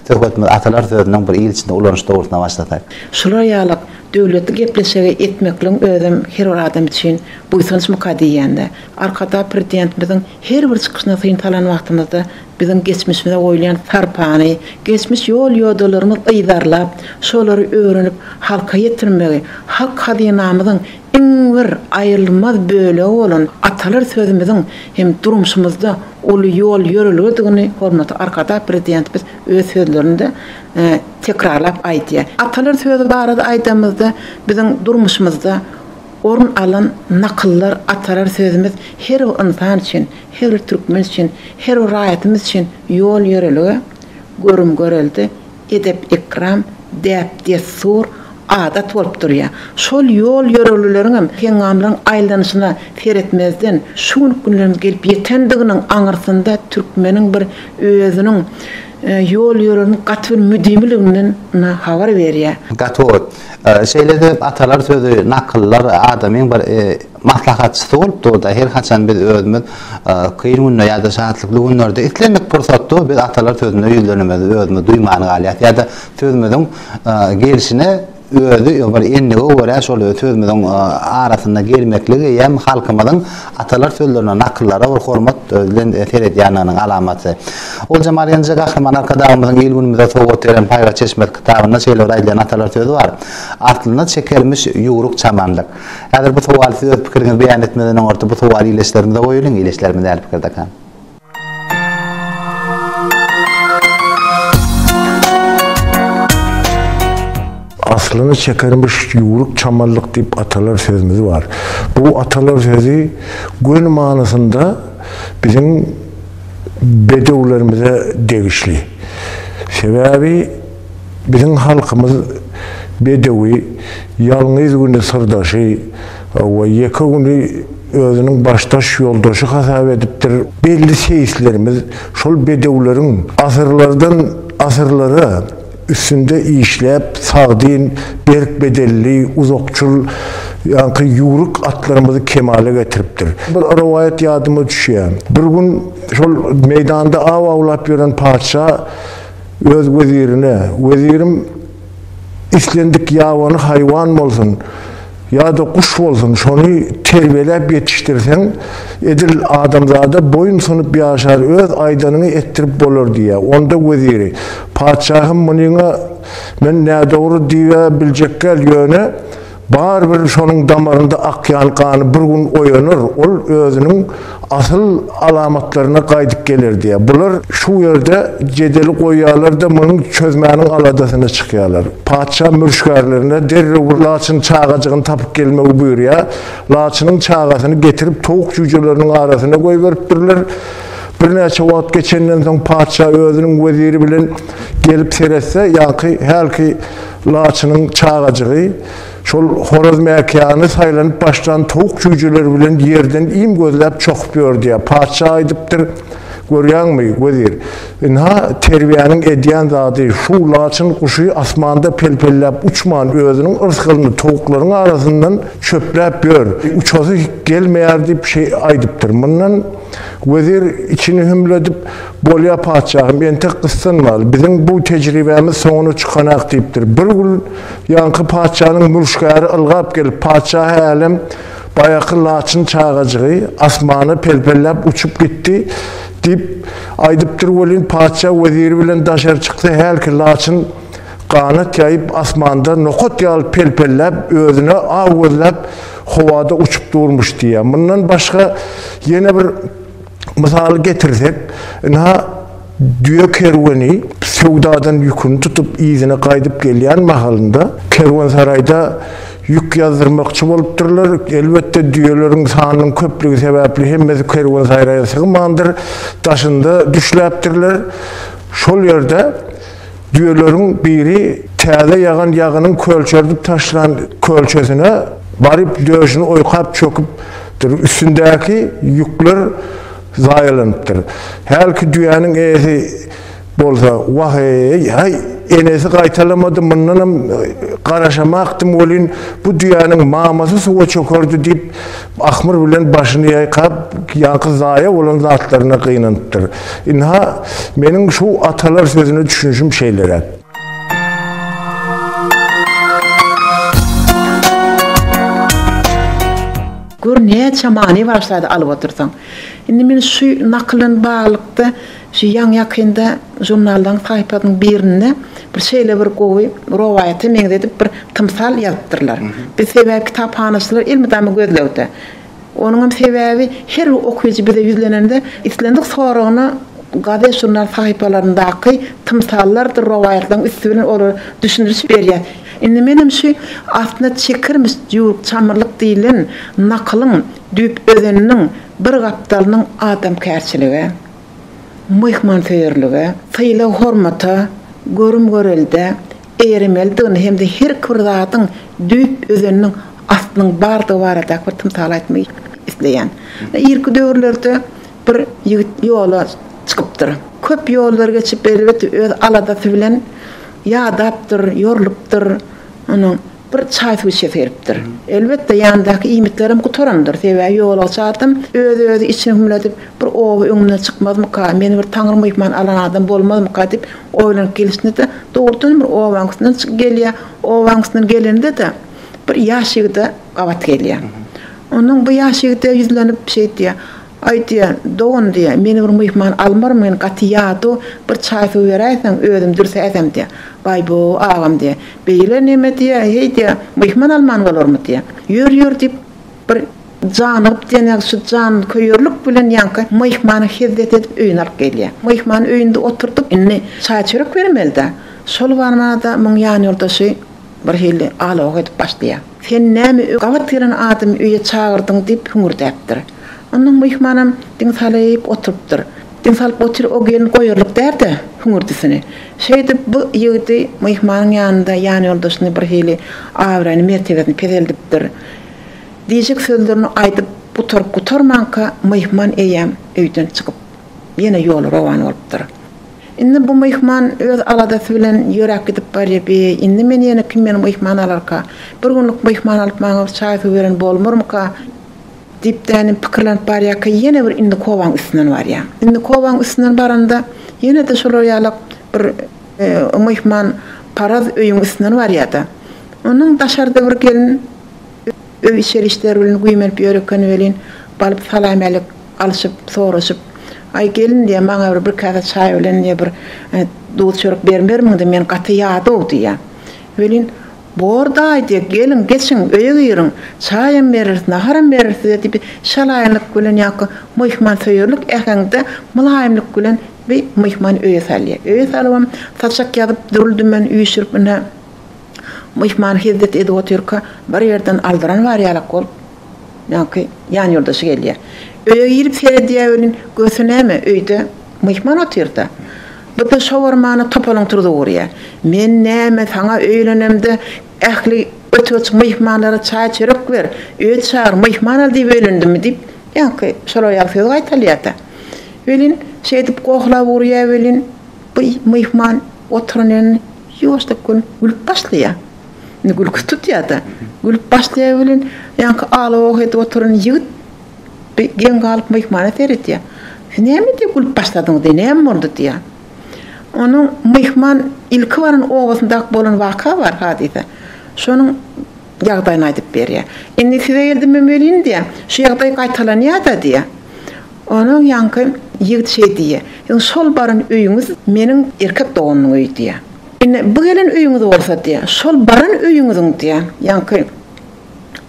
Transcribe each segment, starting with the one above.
Söhbetimizi atalar sözüniň bir ýyl içinde ulanyş dogrusynda başlasak. Şular ýaly döwletli gepleşigi etmekligiň özem her bir adam üçin buýsançmyka diýýän-de. Arkadagprzidentimiziň Her bir çykyşyna syn salan wagtymyzda biziň geçmişimize goýulýan sarpany, geçmiş ýol-ýodalarymyz yzarlap, şolary öwrenip halka ýetirmegi, halk hazynamyzyň iň bir aýrylmaz bölegi bolan atalar sözümiziň hem durmuşymyzda uly ýol-ýörelgedigini hormatly Arkadag Prezidentimiz öz sözlerinde tekrarlap aýdýar. Atalar sözi barada aýdanymyzda biziň durmuşymyzda, Orun alan nakyllar atalar sözümiz her bir ynsan üçin, her bir türkmen üçin, her bir raýatymyz üçin ýol-ýörelge, görüm-görelde, edep-ekram, däp-dessur, adat bolup durýar. Şol ýol-ýörelgeleriň hem heňňamlaryň aýlanyşyna seretmezden, şu günki günlerimize gelip ýetendiginiň aňyrsynda türkmeniň bir özüniň ýol-ýörelgäniň gaty bir müdimiliginden habar berýär. Gaty ot, Şeýle-de atalar sözi, nakyllar adamyň bir maslahatçysy bolup dur-da, her haçan biz özümiz kyn günde ýa-da şatlykly günlerde islendik pursatda biz atalar sözüne ýüzlenemizde özümizi duýman galýas ýa-da sözümiziň gelşine özi bir endige görä şol sözümiziň arasynda gelmekligiýem halkymyzyň Atalar sözlerine, nakyllara bir hormat bilen seredýändiginiň alamaty. Ol Jemal Genije Gahryman Arkadagymyzyň il-günümize sowgat beren Paýhas çeşmesi kitabynda şeýle bir aýdylýan atalar sözi bar, Aslyna çekermiş ýüwrük çamandyr. Häzir bu sowaly siz öz pikiriňizi beýan etmezden öňürti bu sowaly ileçlerimize goýulyň, ileçlerimiz nähili pikirdekä? Aslyny çekermiş ýüwrük çamallyk diýip atalar sözümiz bar. Bu atalar sözi göni manysynda biziň bedewlerimize degişli. Sebäbi Biziň halkymyz bedewi, ýalňyz güni syrdaşy we ýeke güni özüniň başdaş ýoldaşy hasap edipdir. Belli seýislerimiz şol bedewleriň asyrlardan asyrlara üstünde işläp, sagdyn, berk bedenli, uzakçyl, ýaňky ýüwrük atlarymyzy kemala getiripdir. Bir rowaýat ýadyma düşýär. Bir gün şol meýdanda aw awlap ýören patyşa. Öz wezirine, Wezirim, islendik ýabany haýwan bolsun ýa-da guş bolsun, şony terbiýeläp ýetişdirseň, edil adamzada boýun sunup ýaşar, öz aýdanyňy etdirip bolar diýýär. Onda weziri, Patyşahym, munyňa men nädogry diýä biljekgäl, ýöne, Barybir şonuň damarynda akýan gany bir gün oýanar, ol özüniň asyl alamatlaryna gaýdyp geler diýýär. Bular şu ýerde jedeli goýýarlar-da, munuň çözmäniň aladasyna çykýarlar. Patyşa mürşgärlerine derrew bir laçyn çagajygyny tapyp gelmegi buýurýar. Laçynyň çagasyny getirip, towuk jüýjeleriniň arasyna goýberipdirler. Birnäçe wagt geçenden soň patyşa özüniň weziri bilen gelip seretse, ýaňky hälki Laçynyň çagajygy şol horazmäkiýany saýlanyp başlan towuk jüýjeleri bilen ýerden iým gözläp çokup ýör diýýär. Patyşa aýdypdyr, Görýäňmi, wezir, ynha, terbiýäniň edýän zady şu laçyn guşy asmanda pelpelläp uçman, özüniň yrsgalyny towuklaryň arasyndan çöpläp ýör. Uçasy gelmeýär diýip şeý aýdypdyr. Mundan wezir içini hümledip, Bolýa, patyşahym, entek gyssanmaly. Biziň bu tejribämiz soňuna çykanak, diýipdir. Bir gün ýaňky patyşanyň mülkgäri ylgap gelip, Patyşahy älem, baýaky laçyn çagajygy asmana pelpelläp uçup gitdi, diýip, aýdypdyr welin, patyşa weziri bilen daşary çyksa, hälki laçyn ganat ýaýyp, asmanda nokat ýaly pelpelläp, özüne aw gözläp, howada uçup durmuş diýýär. Mundan başga ýene bir. Mysal getirsek, ynha, düýe kerweni söwdadan ýüküni tutup, yzyna gaýdyp gelýän mahalynda, kerwensaraýda ýük ýazdyrmakçy bolupdyrlar. Elbetde, düýeleriň sanynyň köplügi sebäpli hemmesi kerwensaraýa sygmandyr, daşynda düşläpdirler. Şol ýerde. Düýeleriň biri täze ýagan ýagynyň kölçerdip taşlan kölçesine baryp döşüni oýkap çöküpdir, üstündäki ýükler zaýalanypdyr. Hälki düýäniň eýesi bolsa, Wah-eý-eý, enesi gaýtalamady, mundanam garaşamakdym welin, bu düýäniň mamasy suwa çökerdi diýip, Ahmyr bilen başyny ýaýkap, ýaňky zaýa bolan zatlaryna gynanypdyr. Ynha, meniň şu atalar sözüne düşünişim şeýleräk. Gör, näçe many bar şäde alyp otyrsaň. Indi men şu nakyl bilen baglylykda Şu ýaňy-ýakynda žurnaldaryň saýpasynyň birinde bir şeýle bir gowy rowaýata meňzedip bir tymsal ýazypdyrlar. Biz sebäbi kitaphanaçylar elmydama gözlegde. Onuňam sebäbi her bir okyjy bize ýüzlenende islendik soragyna gazet-žurnal sahypalaryndaky tymsallardyr rowaýatlaryň üsti bilen olara düşündiriş berýär. Indi menem şu aslynda çekirmiş jüwrük çamyrlyk diýlen nakylyň düýp özeniniň bir gapdalynyň adamkärçiligi, myhmansöýerlige, sylag-hormata, görüm-görelde eýeremelidigini hem-de herki bir zadyň düýp özeniniň aslynyň bardygy baradaky bir tymsaly aýtmak isleýän. Irki döwürlerde bir ýigit ýola çykypdyr. Köp ýollar geçip, elbet, öz aladasy bilen ýadapdyr, ýorlupdyr. Onuň. Bir çaý suwça seripdir. Elbetde, ýanymdaky iýmitlerem gutarandyr. Sebäbi ýola çarsam, öz-özi içini hümledip, bir oba öňümden çykmazmyka, meni bir taňry myhman alan adam bolmazmyka diýip oýlanyp gelişinde-de, dogrudanam bir obaň üstünden çykyp gelýär. Obaň üstünden gelende-de, bir ýaş ýigide gabat gelýär. Ondan bu ýaş ýigide ýüzlenip, şeýdýär. Aýtýar, Dogan diýýär, meni bir myhman almarmy, men gaty ýadaw, bir çaý-suw beräýseň, özüm dürsäýsem diýýär. Baý-bo, agam diýýär, beýle neme diýýär, heý diýýär, myhman alman bolarmy diýýär. Ýör, ýör diýip, bir janygyp diýen ýaly şu janköýerlik bilen ýaňky myhmana hezzet edip öýüne alyp gelýär. Myhman öýünde oturdyk, indi çaý-çörek bermeli-dä. Şol barmada muň ýanýoldaşy Bir hili alawak edip başlaýar. Sen näme öý gabat gelen adamy öýe çagyrdyň diýip hüňürdäpdir. Onnoň myhmanam diň salyp oturypdyr. Diň salyp otyr o gelin goýarlyk dälde hüňürdisini. Şeýdip bu ýigidi myhmanyň ýanynda ýanýoldaşyny bir hili abraýyny mertebesini peseldipdir. Diýjek sözlerini aýdyp gutaryp gutarmanka myhman eýýäm öýden çykyp ýene ýola rowan bolupdyr. Indi bu myhman öz aladasy bilen ýöräp gidip barýa, bi, indi men ýene kim meni myhman alarka? Bir günlük myhman alyp maňa bir çaý-suw beren bolmarmyka? diýipdänem pikirlenip barýarka ýene bir indi kowaň üstünden barýa. Indi kowaň üstünden baranda ýene-de şolar ýala bir myhman paraz öýüň üstünden barýa-da. Onuň daşarda bir gelin. Öý içeri işleri bilen güýmenip ýör ekeni welin, balyp salam-älik alşyp, soraşyp, Aý, gelin, diýýär, maňa bir bir käse çaý bilen, diýýär, bir duz-çörek bermermiň-de, men gaty ýadaw, diýýär. Welin, Bor, daýy, diýýär, geliň, geçiň, öýe giriň, çaýam bereris, naharam bereris size, diýip, şalaýynlyk bilen ýa-da myhmansöýerlik äheňde mylaýymlyk bilen bir myhman öýe salýar. Öýe salybam, saçak ýazyp, dürli-dümen üýşürip, ine, Myhman hezzet edip otyrka, bir ýerden aldyran bar ýalak bolup, ýaňky ýanýoldaşy gelýär. Öýe girip seredýär welin, görse näme, öýde myhman otyr-da. Birde şowarmany topalyň turzup urýar. Men näme, saňa öýlenemde ähli göterç myhmanlara çaý-çörek ber, öýe çagyr, myhman al diýip öýlendimmi diýip, ýaňky şol aýal söz gaýtalýar-da. Welin, şeýdip gohlap urýar welin, bu myhman. Oturan ýerinde ýuwaşlyk gün gülüp başlaýar. Indi gülki tutýar-da. Gülüp başlaýar welin, ýaňky ala-oh edip oturan ýigit bi geň galyp myhmana seredýär. Siz näme diýip gülüp başladyňyz-eý, näme boldy? diýýär. Onuň myhman ilki baran obasyndaky bolan waka bar, hadysa. Şonuň ýagdaýyny aýdyp berýär. Indi size geldimem welin, diýýär, şu ýagdaý gaýtalanýar-da, diýýär. Onuň ýaňky ýigit şeý diýýär, Siziň şol baran öýüňiz meniň erkek doganymyň öýi diýýär. Indi bu gelen öýüňiz bolsa diýýär, şol baran öýüňiziň diýýär, ýaňky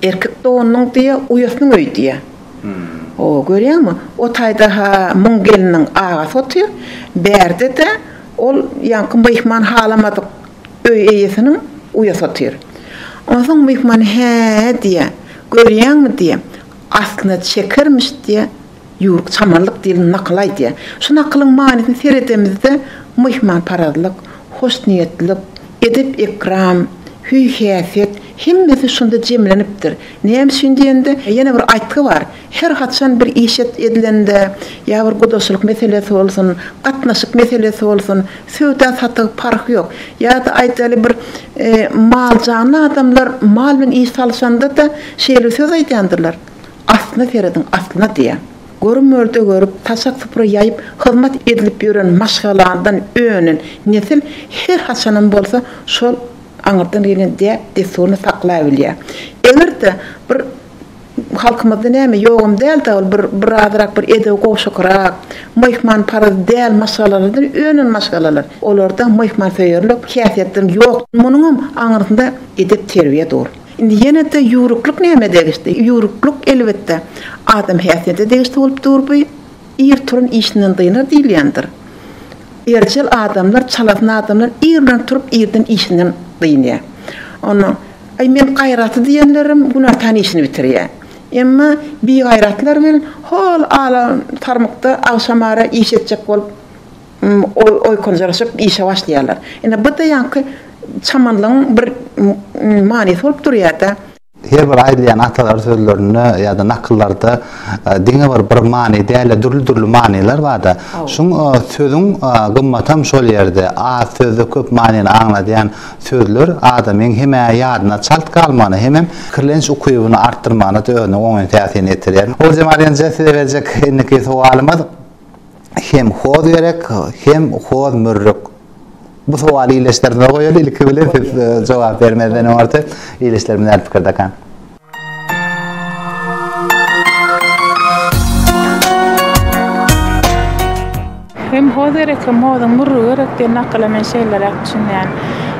erkek doganynyň diýýär, uýasynyň öýi diýýär. Ho, görýäňmi, o taýda-ha muň gelniniň agasy otyr, bärde-de ol ýaňky myhman halamadyk öý eýesiniň uýasy otyr. Onsoň myhman hä-ä diýýär, görýäňmi diýýär, Aslynda çekermiş diýýä, ýüwrük çamarlyk diýlen nakyl aýdýa. Şu nakylyň manysyny seredemizde myhmanparazlyk, hoşniýetlilik, edep-ekram, hüý-häsiýet hemmesi şunda jemlenipdir. Näme üçin diýende, ýene bir aýtgy bar, her haçan bir iş edilende, ýa bir gudaçylyk meselesi bolsun, gatnaşyk meselesi bolsun, Söwda satygy parhy ýok. Ýa-da aýdaly bir mal janly adamlar mal bilen iş salyşanda-da şeýle söz aýdýandyrlar, Aslyna serediň, aslyna diýýär. Görüm mörde görüp, taşak supra ýaýyp hyzmat edilip ýören maşgaladan önen nesil her haçanam bolsa şol aňyrdan gelýän däp-dessuryny saklaýbilýär. Eger-de bir Halkymyzda näme ýogam dälda ol bir bir azyrak bir edebi gowşakrak, myhman parazy däl maşgalalardan önen maşgalalar. Olarda myhman söýerlik häsiýetden ýok. Munuňam aňyrsynda edep terbiýe dur. Indi ýenede ýüwrüklik nämä degişdi? Ýüwrüklik elbetde adam häsiýete degişli bolup dur bu. Ir turan işinden dynar diýilýändir. Erjel adamlar, çalasyn adamlar ir bilen turup irden işinden dynýar. Onda Aý men gaýratly diýenlerim günä tan işini bitirýä. Emma bigaýratlar bilen hol ala tarmykda agşam ara iş etjek bolup oýkanjyraşyp işe başlaýarlar. Ine bu-da ýaňky çamanlygyň bir manysy bolup durýa-da. Her bir aýdylýan atalar sözlerinde ýa-da nakyllarda diňe bir bir many däl-de dürli-dürli manylar bar-da. Şuň sözüň gymmatam şol ýerde. Az sözde köp manyny aňladýan Sözler adamyň hem ýadyna çalt galmagyna hemem pikirlenç ukybyny artdyrmagyna özüniň oňyn täsirini ýetirýär. Oguljemal ynha size berjek indiki sowalymyz hem hoz gerek hem hoz mürrük. Bu sowaly ildeşlerimize goýaly ilki bilen siz jogap bermezden oňarty ildeşlerimiz näme pikirdekä. Hem ho derek, hem hozuň mürri gerek diýen nakyla men şeýleräk düşünýän.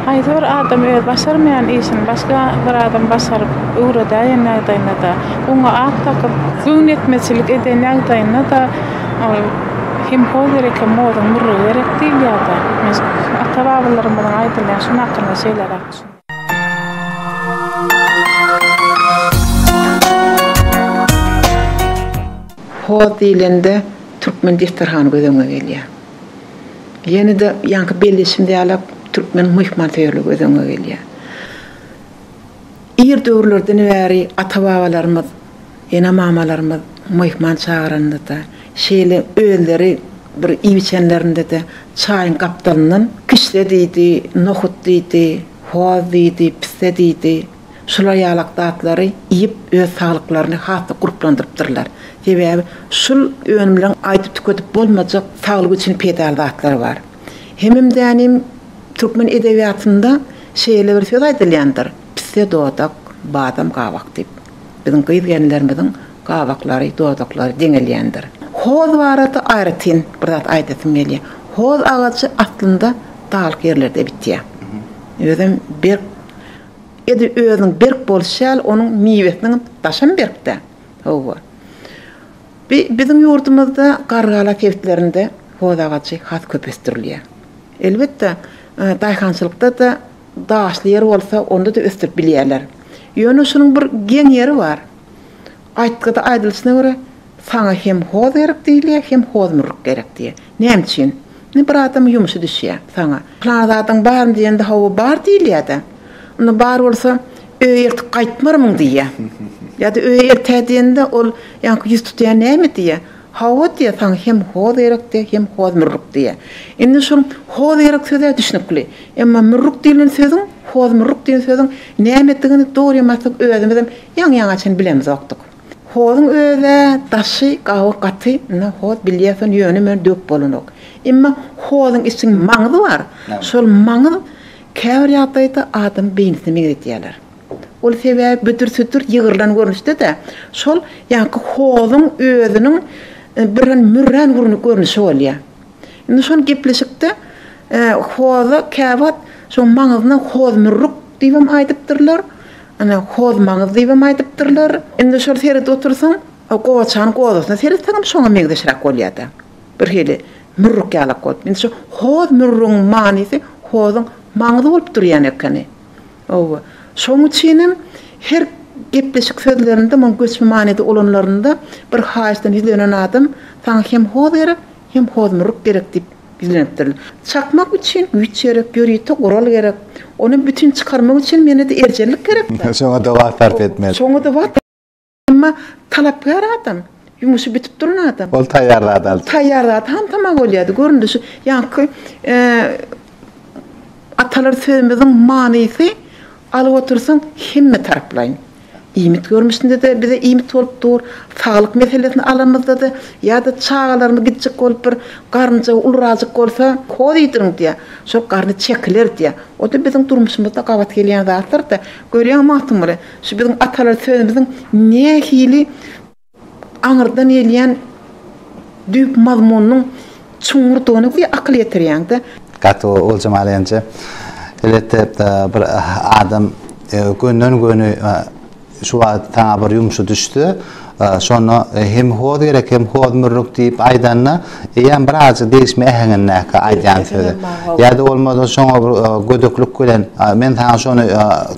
Haýsy bir adam özi başarmaýan işini başga bir adam başaryp, öwredäýen ýagdaýynda-da, oňa at dakyp, göwnetmeçilik eden ýagdaýynda-da ol Hem ho derek, hem hozuň mürri gerek diýilýär-de. Men ata-babalarymyzyň aýdylýan şu nakylyna şeýleräk düşünýän. Hoz diýlende türkmen desterhany göz öňüňe gelýär. Ýene-de ýaňky belleşim ýalak türkmeniň myhmansöýerligi göz öňüňe gelýär. Ir döwürlerden bäri ata-babalarymyz Ene-mamalarymyz myhman çagyranda-da, şeýle özleri bir iýip-içenlerinde-de çaýyň gapdalyndan kişde diýdi, nohut diýdi, hoz diýdi, pisse diýdi, şular ýalak zatlary iýip, öz saglyklaryny has-da gurplandyrypdyrlar. Sebäbi şul önümleriň aýdyp-tükedip bolmajak saglyk üçin peýdaly zatlary bar. Hemem-dänem türkmen edebiýatynda şeýle bir söz aýdylýandyr, Pisse dodak, badam gabak diýip. Biziň gyz-gelinlerimiziň gabaklary, dodaklary deňelýändir. Hoz barada aýratyn bir zat aýdasym gelýär. Hoz agajy aslynda daglyk ýerlerde bitýär. Özem berk, edi özüniň berk bolşy ýaly, onuň miwesiniň daşam berk-dä. Hawa. Bi, biziň ýurdumyzda Gargala sebitlerinde hoz agajy has köp ösdürilýär. Elbetde, daýhançylykda-da Daşly ýer bolsa, onda-da ösdürip bilýärler. Ýöne şunuň bir geň ýeri bar. Aýtgyda aýdylyşyna görä, saňa hem hoz gerek diýilýär, hem hozmurryk gerek diýýär. Näme üçin? Indi bir adamyň ýumşy düşýär saňa. Pylan zadyň barmy diýende, hawa, bar diýilýär-de. Onda bar bolsa, öýe ertir gaýtmarmyň diýýär. Ýa-da öýe ertä diýende, ol ýaňky ýüz tutýan näme diýýär. Hawa diýýär, saňa hem hoz gerek diýýär, hem hoz mürrük diýýär. Indi şol hoz gerek söz-ä düşnükli. Emma mürrük diýlen sözüň, hoz mürrük diýen sözüň nämedigini dogry ýa-maslyk özümizem ýaňy-ýaňy çen bilemzokdyk. Hozuň öz-ä daşy, gaby gaty, ynha hoz bilýärsen ýöne-möne döwüp bolanok. Emma hozuň içiň maňzy bar, şol maňz käbir ýagdaýda adamyň beýnisine meňzedýärler. Ol sebäbi büdür-südür ýygrylan görnüşde-de, şol ýaňky hozuň özüniň birden mürrän görnüşi bolýar. Indi şol gepleşikde hoza käwagt şoň maňyzyna hozmürrük diýibem aýdypdyrlar, ana, hozmaňyz diýibem aýdypdyrlar. Indi şol seredip otursaň, gowaçanyň gozasyna seretseňem şoňa meňzeşräk bolýar-da. Birhili mürrük ýalak bolup. Indi şu hozmürrügiň manysy hozuň maňzy bolup durýan ekeni. Hawa, şoň üçinem her gepleşik sözlerinde, muň göçme manyda ulanlarynda bir haýyşdan ýüzlenen adam Saňa hem hoz gerek, hem hozmurruk gerek diýip ýüzlenipdir. Çakmak üçin güýç gerek, ýörite gural gerek. Ony bütin çykarmak üçin menede erjellik gerek-dä. Şoňa-da wagt sarp etmeli. Şoňa-da wagt. Emma talapkär adam, ýumuşy bitip duran adam. Ol taýýar zat aldy. Taýýar zat hantama bolýardy. Göründi şu ýaňky atalar sözümiziň manysy alyp otursaň hemme taraplaýyn. Iýmit görnüşinde-de bize iýmit bolup dur, saglyk meselesini alamyzda-da ýa-da çagalarymy gitjek bolup bir garynja ulurajyk bolsa hoz iýdiriň diýýär. Şol garny çekiler diýýär. O-da biziň durmuşymyzda gabat gelýän zatlar-da. Görýäňmi Magtymguly, Şu biziň atalar sözümiziň nähili aňyrdan gelýän düýp mazmunynyň çuňňurdygyny bir akyl ýetirýäňdä. Gaty gowy Oguljemal Enje. Elbetde bir adam gönden göni şu wagt saňa bir ýumşy düşse, Şonda hem hoz gerek, hem hoz mürrük diýip aýdanda, eýýäm bir azajyk degişme äheňindäki aýdýan sözi. Ýa-da bolmasa şoňa bir gödeklik bilen, men saňa şony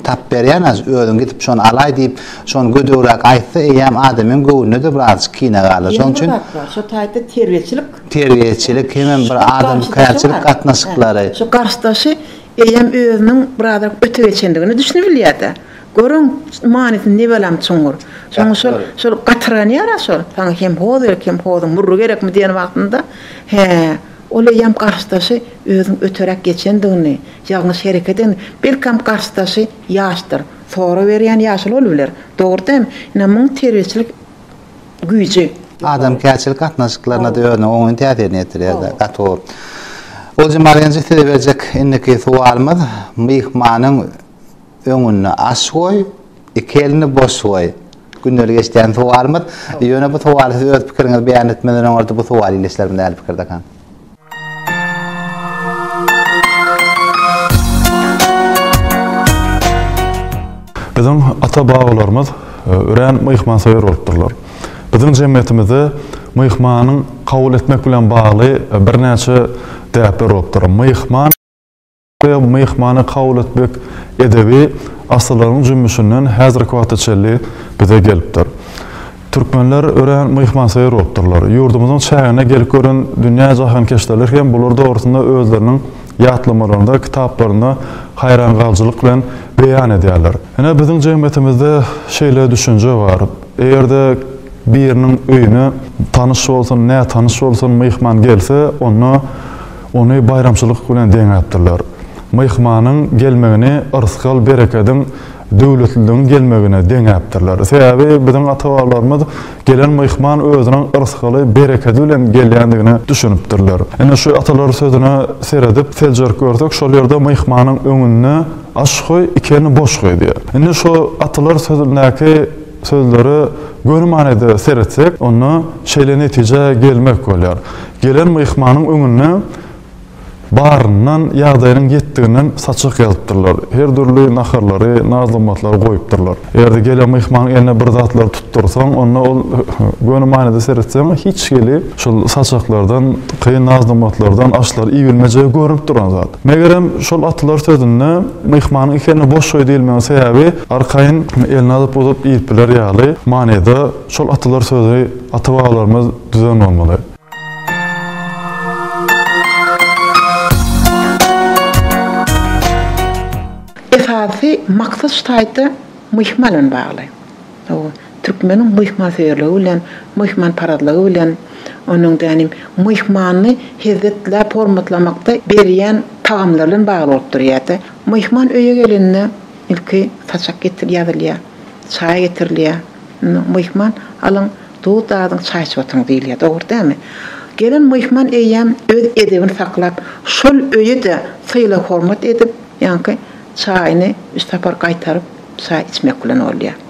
tapyp berýän, özüň gidip şony alaý diýip, şony gödegräk aýtsa, eýýäm adamyň göwnüne-de bir azajyk kine galar. Şonuň üçin. Ýene bir zat bar, şo taýda terbiýeçilik. Terbiýeçilik hemem bir adamkärçilik gatnaşyklary. Şu garşydaşy eýýäm özüniň bir azajyk öte geçendigini düşünip bilýär-de. Görüň, manysy nebalam çuňňur. Soň şol, şol gatyrganýar-a şol. Saňa hem hoz gerek, hem hozuň murry gerekmi diýen wagtynda, hä, ol eýýäm garşydaşy özüň öteräk geçendigini, ýalňyş hereket edeni, belkäm garşydaşy ýaşdyr, sora berýän ýaşy bolup biler. Dogry däm? Ine, muň terbiýeçilik güýji. Adamkärçilik gatnaşyklaryna-da özüniň oňyn täsirini ýetirýär-de, gaty gowy. Oljamalyň, size berjek indiki sowalymyz, myhmanyň Öňüne aş goý, iki elini boş goý. Gündelik eşidýän sowalymyz. Ýöne bu sowaly siz öz pikiriňizi beýan etmeden öňürti bu sowaly ildeşlerimiz nähili pikirdekan? Biziň ata-babalarymyz örän myhmansöýer bolupdyrlar. Biziň jemgyýetimizde myhmanyň kabul etmek bilen bagly birnäçe däpler bolupdyr. Myhman. we myhmany kabul etmek edebi asyrlaryň jümmüşinden häzirki wagta çenli bize gelipdir. Türkmenler örän myhmansöýer bolupdyrlar. Ýurdumyzyň çägine gelip gören dünýä jahankeşdeler hem bular dogrusynda özleriniň ýatlamalarynda, kitaplarynda haýrangalyjylyk bilen beýan edýärler. Ine, biziň jemgyýetimizde şeýle düşünje bar. Eger-de biriniň öýüne tanyş bolsun, nätanyş bolsun myhman gelse, onda Ony baýramçylyk bilen deňäpdirler. Myhmanyň gelmegini yrsgal-berekediň, döwletliligiň gelmegine deňäpdirler. Sebäbi biziň ata-babalarymyz gelen myhman özüniň yrsgaly, berekedi bilen gelýändigine düşünipdirler. Ine, şu atalar sözüne seredip, seljerip görsek, şol ýerde myhmanyň öňünde aş goý, iki elini boş goý diýýär. Indi şu atalar sözündäki Sözlere göni manyda seretsek, onda şeýle netijä gelmek bolýar. Gelen myhmanyň öňünde baryndan, ýagdaýynyň ýetdiginden saçak ýazypdyrlar. Her dürli naharlary, naz-nygmatlary goýupdyrlar. Eger-de gelen myhmanyň eline bir zatlary tutdursaň, onda ol göni manyda seretseň, hiç hili şol saçaklardan, kyn naz-nygmatlardan aşlary iýibilmejegi görnüp duran zat. Megerem, şol atlar sözünde myhmanyň iki eline boş goý diýilmegiň sebäbi Arkaýyn elini alyp uzup iýip biler ýaly manyda şol atalar sözi ata-babalarymyz düzen bolmaly. Esasy maksat şu taýda myhman bilen bagly. Türkmeniň myhmansöýerligi bilen, myhmanparazlygy bilen, onuň dänim myhmany hezzetläp hormatlamakda berýän tagamlary bilen bagly bolup durýar-da. Myhman öýe gelende. Ilki saçak getir ýazylýar. Çaý getirilýär. Myhman, Alyň, duz dadyň, çaý içip oturyň diýilýär. Dogry dälmi? Gelen myhman eýýäm öz edebini saklap, şol öýe-de sylag-hormat edip, ýaňky çaýyny üç sapar gaýtaryp, çaý içmek bilen bolýar.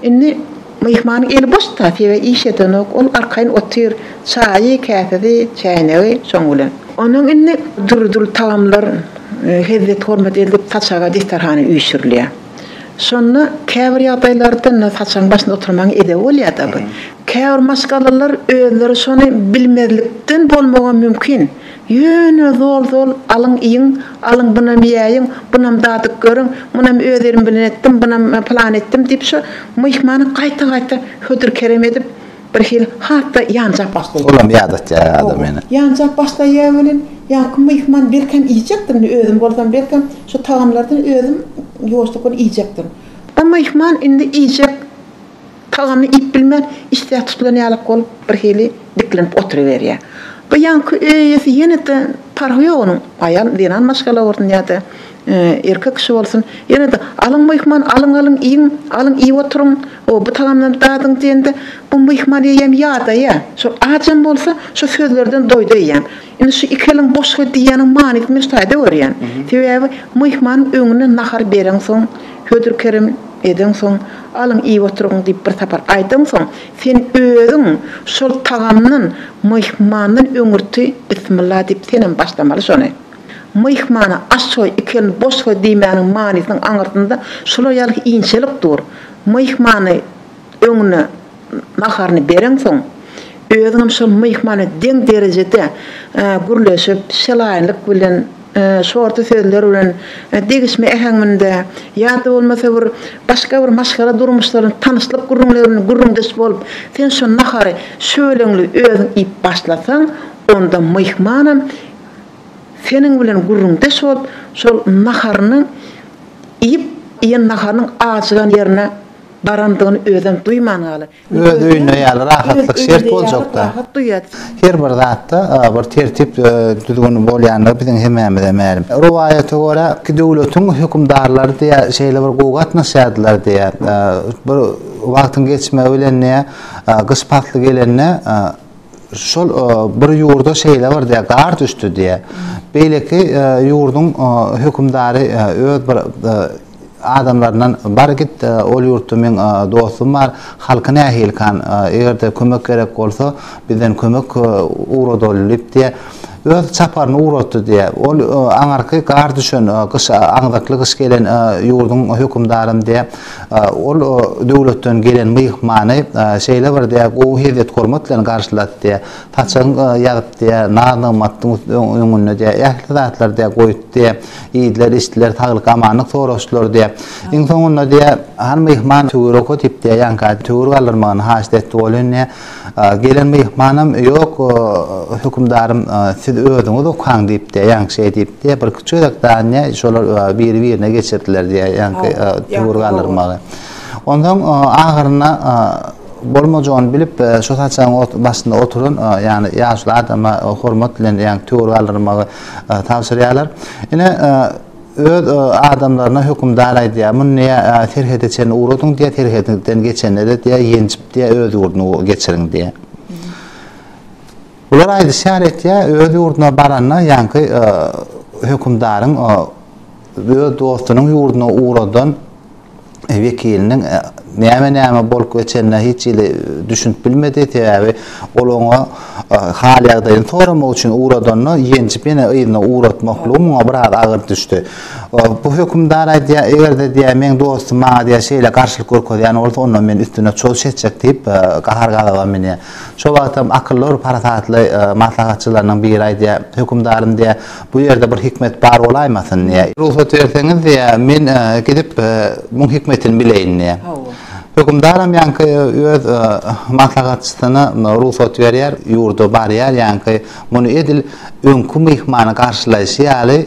Indi myhmanyň eli boş-da, sebäbi iş edenok. Ol arkaýyn otyr, çaýy, käsesi, çäýnegi şoň bilen. Ondan indi dürli-dürli tagamlar, hezzet-hormat edilip, saçaga desterhana üýşürilýär. Şonda käbir ýagdaýlarda indi saçagyň başynda oturmagyň edebi bolýar-da. Käbir maşgalalar özleri şony bilmezlikden bolmagam mümkin. Ýöne zol-zol alyň iýiň, alyň bunam iýäýiň, bunam dadyp görüň, munam öz elim bilen etdim, bunam pylan etdim diýip şo myhmany gaýta-gaýta hödür-kerem edip, birhili hat-da ýanjap başlaýar. Olam ýadatýar adam ýene. Ýanjap başlaýar welin, ýaňky myhman belkem iýjekdir, indi özüm bolsam belkem şo tagamlardan özüm ýuwaşlyk bilen iýjekdirin. O myhman indi iýjek Tagamy iýip bilmän, işdä tutulan ýalak bolup, birhili diklenip oturyberýär. Bu ýaňky öý eýesi ýene-de, parhy ýok onuň, aýal, zenan maşgala bolsun ýa-da erkek kişi bolsun, ýene-de, Alyň myhman, alyň, alyň, iýiň, alyň, iýip oturyň, o, bu tagamdan dadyň diýende, bu myhman eýýäm ýadaýar. Şol ajam bolsa, şu sözlerden doýdy eýýäm. Indi şu iki eliň boşga diýýäniň manysyny men şu taýda görýän. Sebäbi myhmanyň öňüne nahar bereňsoň, hödür-kerem edeňsoň, Alyň iýip oturyň diýip bir sapar aýdansoň, sen özüň şol tagamdan, myhmandan öňürti bismilla diýip senem başlamaly şony. Myhmana aşgoý, iki elini boş goý diýmäniň manysynyň aňyrsynda şular ýaly inçelik dur. Myhmany öňüne. naharyny bereňsoň, özüňem şol myhmana deň derejede gürleşip, şelaýynlyk bilen, şorta sözler bilen, degişme äheňinde ýa-da bolmasa bir başga bir maşgala durmuşlaryny, tanyşlyk gürrüňlerini gürrüňdeş bolup, sen şo nahary şöleňli özüň iýip başlasaň, onda myhmanam seniň bilen gürrüňdeş bolup, şol naharyny iýip, iýen naharynyň ajygan ýerine Barandygyny özem duýman galy. Öz öýünde ýaly rahatlyk şert boljakda. Her bir zatda bir tertip, düzgün bolýandygy biziň hemmämize mälim. Rowaýata görä, iki döwletiň hökümdarlary diýä şeýle bir gowy gatnaşýardylar diýä. Bir wagtyň geçmegi bilen diýä, gyş pasly gelende, şol bir ýurda şeýle bir diýe gar düşdi diýe. Beýleki ýurduň hökümdary öz bir adamlaryndan bar git ol ýurtda men dostum bar halky nähilikan eger-de kömek gerek bolsa bizden kömek ugradaly diýip diýe öz çaparyny ugratdy diýe. Ol aňarky gar düşen gyş aňzakly gyş gelen ýurduň hökümdarym diýe. Ol döwletden gelen myhmany şeýle bir gowy hezzet-hormat bilen garşylasdy, saçagyn ýazypdy, naz-nygmatdyň öňünde ähli zatlary goýupdy, iýdiler-içdiler, saglyk-amanlyk soraşdylar. Iň soňunda han myhman töwere oka diýip, ýaňky töwür galdyrmagyny haýyşt etdi. Ol indi. Gelen myhmanam, Ýok, hökümdarym, siz özüňiz okaň diýipdi, ýaňky şeý diýipdi. Birki çörek danyýa şolar biri-birine geçirdiler diýýär, ýaňky döwür galdyrmagy. Onsoň ahyrynda bolmajagyny bilip, şo saçagyň başynda oturan, ýagny ýaşuly adama hormat bilen ýaňky töwir galdyrmagy tabşyrýarlar. Ine, Öz adamlaryna hökümdar aýdýar, Muny diýýär, serhede çenli ugradyň diýýär, serhediňizden geçenlere diýýär, ýenjip diýýär, öz ýurduňa geçiriň diýýär. Bular aýdyşýar etýär, öz ýurduna baranda ýaňky hökümdaryň öz dostunyň ýurduna ugradan wekiliniň näme-näme bolup geçenine hiç hili düşünip bilmedi, sebäbi ol oňa hal-ýagdaýyny soramak üçin ugradanda, ýenjip ýene yzyna ugratmaklygy muňa biraz agyr düşdi. Bu hökümdar aýdýar, eger-de diýýär, meň dostum maňa diýýär, şeýle garşylyk görkezýän bolsa, onda men üstüne çoz çekjek diýip, gahar-gazaba münýär. Şo wagtam akylly bir parasatly maslahatçylarynyň biri aýdýar, Hökümdarym diýýär, Bu ýerde bir hikmet bar bolaýmasyn? diýýär. Rugsat berseňiz, diýýär, men gidip, muň hikmetini bileýin, diýýär. Hökümdaram ýaňky öz maslahatçysyna rugsat berýär, ýurda barýar, ýaňky muny edil öňki myhmany garşylaýşy ýaly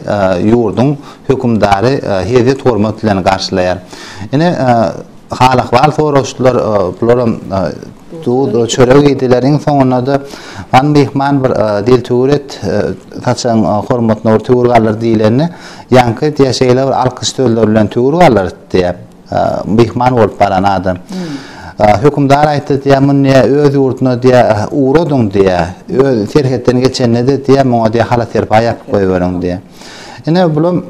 ýurduň hökümdary hezzet-hormat bilen garşylaýar. Ine, hal-ahwal soraşdylar, bularam Duz, çörek iýdileriň soňunda-da Han myhman bir dil tüwür et, saçagyň hormatyna bir tüwür galyr diýlende, ýaňky diýýär, şeýle bir alkyş sözleri bilen tüwür galyr diýýär, myhman bolup baran adam. Hökümdar aýtdy diýýär, Muny diýýär, öz ýurduna diýýär, ugradyň diýýär. Öz serhetden geçende-de diýýär, muňa diýýär, hala-serpaý ýapyp goýberiň diýýär. Ine, bulam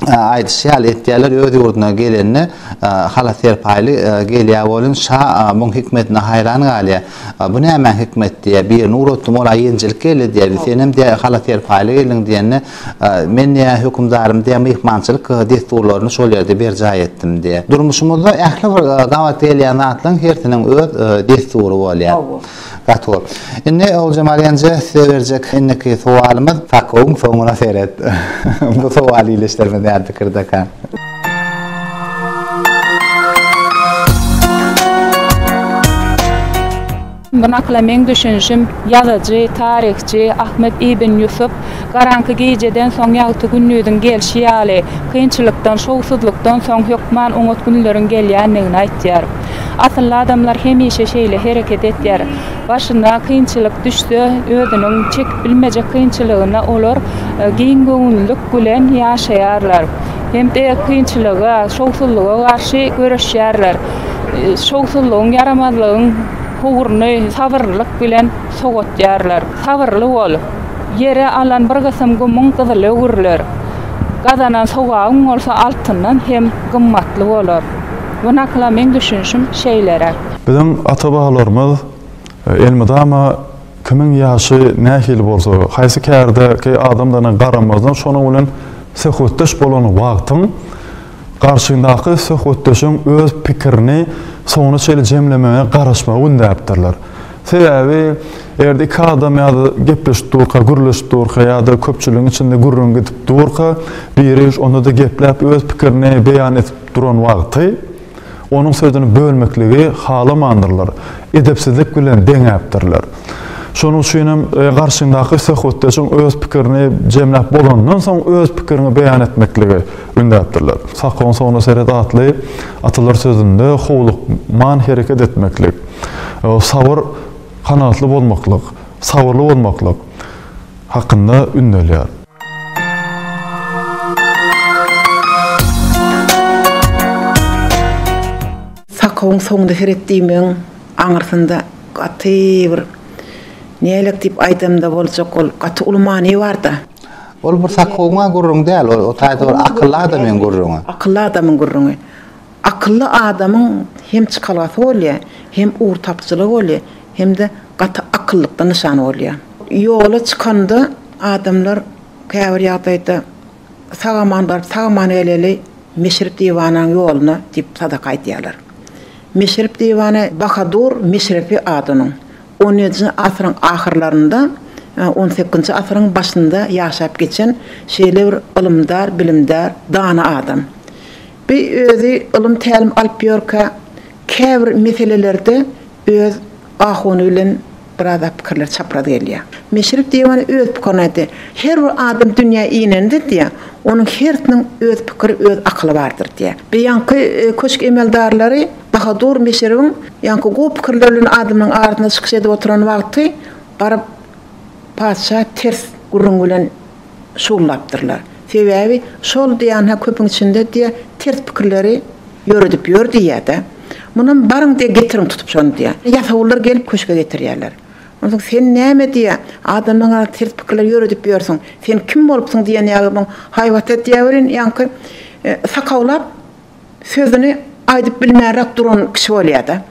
aýdyşy ýaly etýärler, öz ýurduna gelende hala serpaýly gelýär welin, şa muň hikmetine haýran galýar. Bu nämäň hikmeti diýýär. Birini ugratdym, ol-a ýenjilik geldi diýýär. Senem diýýär, hala serpaýly geldiň diýende, men diýýär, hökümdarym diýýär, myhmançylyk dessurlaryny şol ýerde berjaý etdim diýýär. Durmuşymyzda ähli bir gabat gelýän zatlaryň hersiniň öz dessury bolýar. Gatygowy. Indi Oguljemal ýenje size berjek indiki sowalymyz Sakowyň soňuna seret. Bu sowal ildeşlerimiz näme pikirdeka? Bu nakyla meň düşünişim ýazyjy, taryhçy Ahmet ibn Ýusup Garaňky gijeden soň ýagty gündiziň gelşi ýaly, kynçylykdan, şowsuzlykdan soň hökman oňat günleriň gelýändigini aýtýar. Asylly adamlar hemişe şeýle hereket etýär. Başyna kynçylyk düşse, özüniň çekip bilmejek kynçylygyna olar giň göwünlilik bilen ýaşaýarlar hem-de kynçylyga, şowsuzlyga garşy göreşýärler. Şowsuzlygyň, ýaramazlygyň howruny sabyrlylyk bilen sogatýarlar. Sabyrly bol. Ýere alan bir gysym gumuň gyzyly öwrüler. Gazanan sogabyň bolsa altyndan hem gymmatly bolar. Bu nakyla meň düşünişim şeýleräk. Biziň ata-babalarymyz elmydama kimiň ýaşy nähili bolsa, haýsy kärdäki adamdygyna garamazdan şonuň bilen söhbetdeş bolan wagtyň garşyňdaky söhbetdeşiň öz pikirini soňuna çenli jemlemegine garaşmagy ündäpdirler. Sebäbi eger-de iki adam ýa-da gepleşip durka, gürleşip durka ýa-da köpçüligiň içinde gürrüň gidip durka biri onda-da gepläp öz pikirini beýan edip duran wagty onuň sözüni bölmekligi halamandyrlar, edepsizlik bilen deňäpdirler. Şonuň üçin hem garşyňdaky söhbetdeşiň öz pikirini jemläp bolanyndan soň öz pikiriňi beýan etmekligi ündäpdirler. Sakoň soňuna seret atly atalar sözünde howlukman hereket etmeklik, sabyr, kanagatly bolmaklyk, sabyrly bolmaklyk hakynda ündelýär. Sakawyň soňunda heret diýmegiň aňyrsynda gaty bir nälet diýip aýdamda boljak ol gaty uly many barda. Ol bir sakawyň-a gürrüňi däl, o taýda bir akylly adamyň gürrüňi. Akylly adamyň gürrüňi. Akylly adamyň hem çykalgasy bolýar, hem ugur tapyjylygy bolýar, hem-de gaty akyllykdan nyşan bolýar. Ýola çykanda adamlar käbir ýagdaýda Sag-aman baryp, sag-aman geleli Meşrep diwananyň ýoluna diýip sadaka aýdýarlar. Meşrep diwany Bahadur Meşrepi ady onuň. On ýedinji asyryň ahyrlarynda, on sekizinji asyryň başynda ýaşap geçen şeýle bir ylymdar, bilimdar, dana adam. Bi özi ylym-tälim alyp ýörkä, käbir meselelerde öz ahun bilen biraz zat pikirleri çapraz gelýär. Meşrep Diýewany öz pikirini aýtdy. Her bir adam dünýä inende diýýär, onuň hersiniň öz pikiri, öz akyly bardyr diýýär. Bi ýaňky köşk emeldarlary Bahadur Meşrebiň ýaňky gowy pikirleri bilen adamlaryň arasynda çykyş edip oturan wagty baryp, Patyşa ters gürrüň bilen şugllapdyrlar. Sebäbi şol diýanha köpüň içinde diýe ters pikirleri ýöredip ýör diýýädä. Munam baryň diýe getiriň tutup şony diýýä. Ýasawullar gelip köşge getirýärler. Onsoň sen näme diýýä adamlaň ters pikirleri ýöredip ýörsüň. Sen kim bolupsyň diýen ýaly muň haýbata diýäwerin ýaňky sakawlap sözüni aýdyp bilmänräk duran kişi bolýar-da.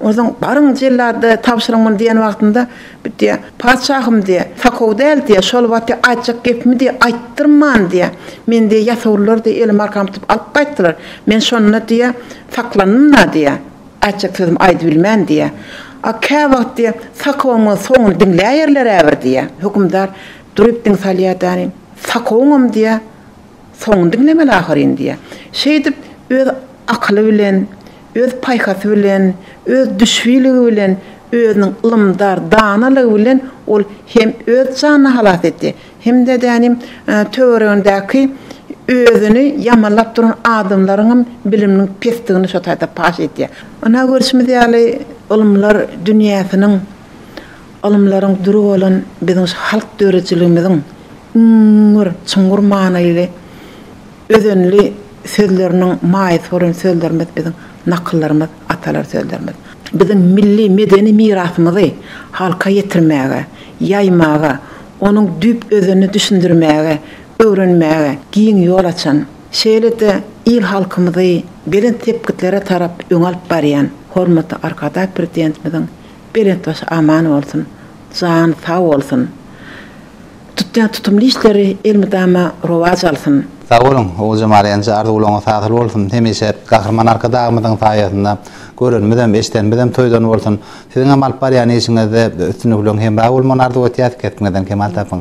Onsoň, Baryň, jellada tabşyryň muny diýen wagtynda, bu diýýär, Patyşahym, diýýär, sakow däl, diýýär, şol wagty aýtjak gepimi, diýýär, aýtdyrman, diýýär, meni, diýýär, ýasawullar, diýýär, elim arkam tutup alyp gaýtdylar. Men şonda, diýýär, saklandym-da, diýýär, aýtjak sözümi aýdybilmän, diýýär. A käwagt, diýýär, sakowymyň soňuny diňläýerler-ä bir, diýýär. Hökümdar durup diň salýar-da, sakowyňam, diýýär, Soňuny diňlemeli ahyryn diýýä. Şeýdip, öz akyly bilen, öz paýhasy bilen, öz düşbiligi bilen, özüniň ylymdar, danalygy bilen ol hem öz janyny halas etdi, hem-de dänim töweregindäki özüni ýamanlap duran adamlaryňam biliminiň pesdigini şo taýda paş edýä. Ynha, görşümiz ýaly, ylymlar dünýäsiniň Ylymlaryň düri bolan biziň şu halk döredijiligimiziň iň bir çuňňur manyly, özenli sözleriniň maýasy bolan sözlerimiz biziň nakyllarymyz, atalar sözlerimiz. Biziň milli medeni mirasymyzy halka ýetirmäge, ýaýmaga, onuň düýp-özenini düşündirmäge, öwrenmäge giň ýol açan, şeýle-de il-halkymyzy belent sepgitlere tarap öňe alyp barýan hormatly Arkadag Prezidentimiziň Belent başy aman bolsun. Jany sag bolsun. Tutýan tutumly işleri elmydama rowaç alsyn. Sag boluň Oguljemal enje arzuwlaryňyz hasyl bolsun hemişe Gahryman Arkadagymyzyň saýasynda görenimizem eşdenimizem toýdan bolsun siziňem alyp barýan işiňizde üstünlikleň hemra bolmagyny arzuw etýäs kesbiňizden kemal tapyň.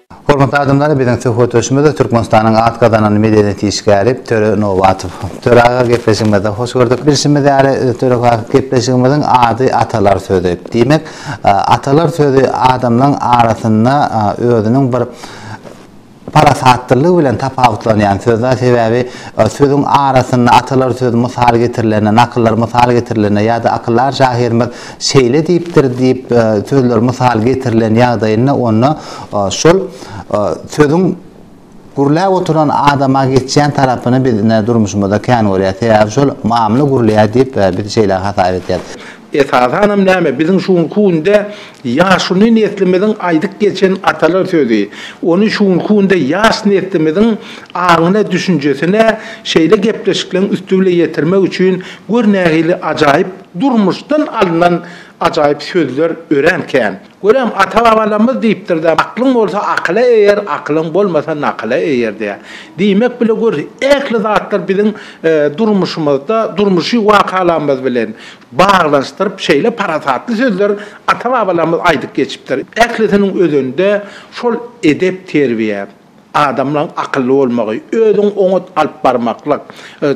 Hormatly adamlar, biziň söhbetdeşimiz Türkmenistanyň at gazanan medeniýet işgäri Töre Nobatow. Töre aga gepleşigimizde hoş gördük. Bilşimiz ýaly, Töre aga, gepleşigimiziň ady Atalar sözi. Diýmek, atalar sözi adamlaryň arasynda özüniň bir parasatlylygy bilen tapawutlanýan söz zat. Sebäbi sözüň arasynda atalar sözi mysal getirilende, nakyllar mysal getirilende ýa-da akyldar şahyrymyz Şeýle diýipdir diýip sözler mysal getirilen ýagdaýynda onda şol sözüň gürläp oturan adama geçýän tarapyny biz ine durmuşymyzda kän görýäs. Sebäbi şol mamla gürleýär diýip biz şeýle hasap edýäs. Esasanam näme, biziň şu günki günde ýaşuly neslimiziň aýdyp geçen atalar sözi, ony şu günki günde ýaş neslimiziň aňyna, düşünjesine şeýle gepleşikleň üsti bilen ýetirmek üçin gör nähili ajaýyp Durmuşdan alnan ajaýyp sözler örän kän. Görem, ata-babalarymyz diýipdir-dä, Aklyň bolsa akyla eýer, akylyň bolmasa nakyla eýer diýýär. Diýmek, bile gör, ähli zatlar biziň durmuşymyzda, durmuşy wakalarymyz bilen baglanyşdyryp, şeýle parasatly sözler ata-babalarymyz aýdyp geçipdir. Ählisiniň özünde şol edep-terbiýe. Adamlaň akylly bolmagy, özüň oňat alyp barmaklyk,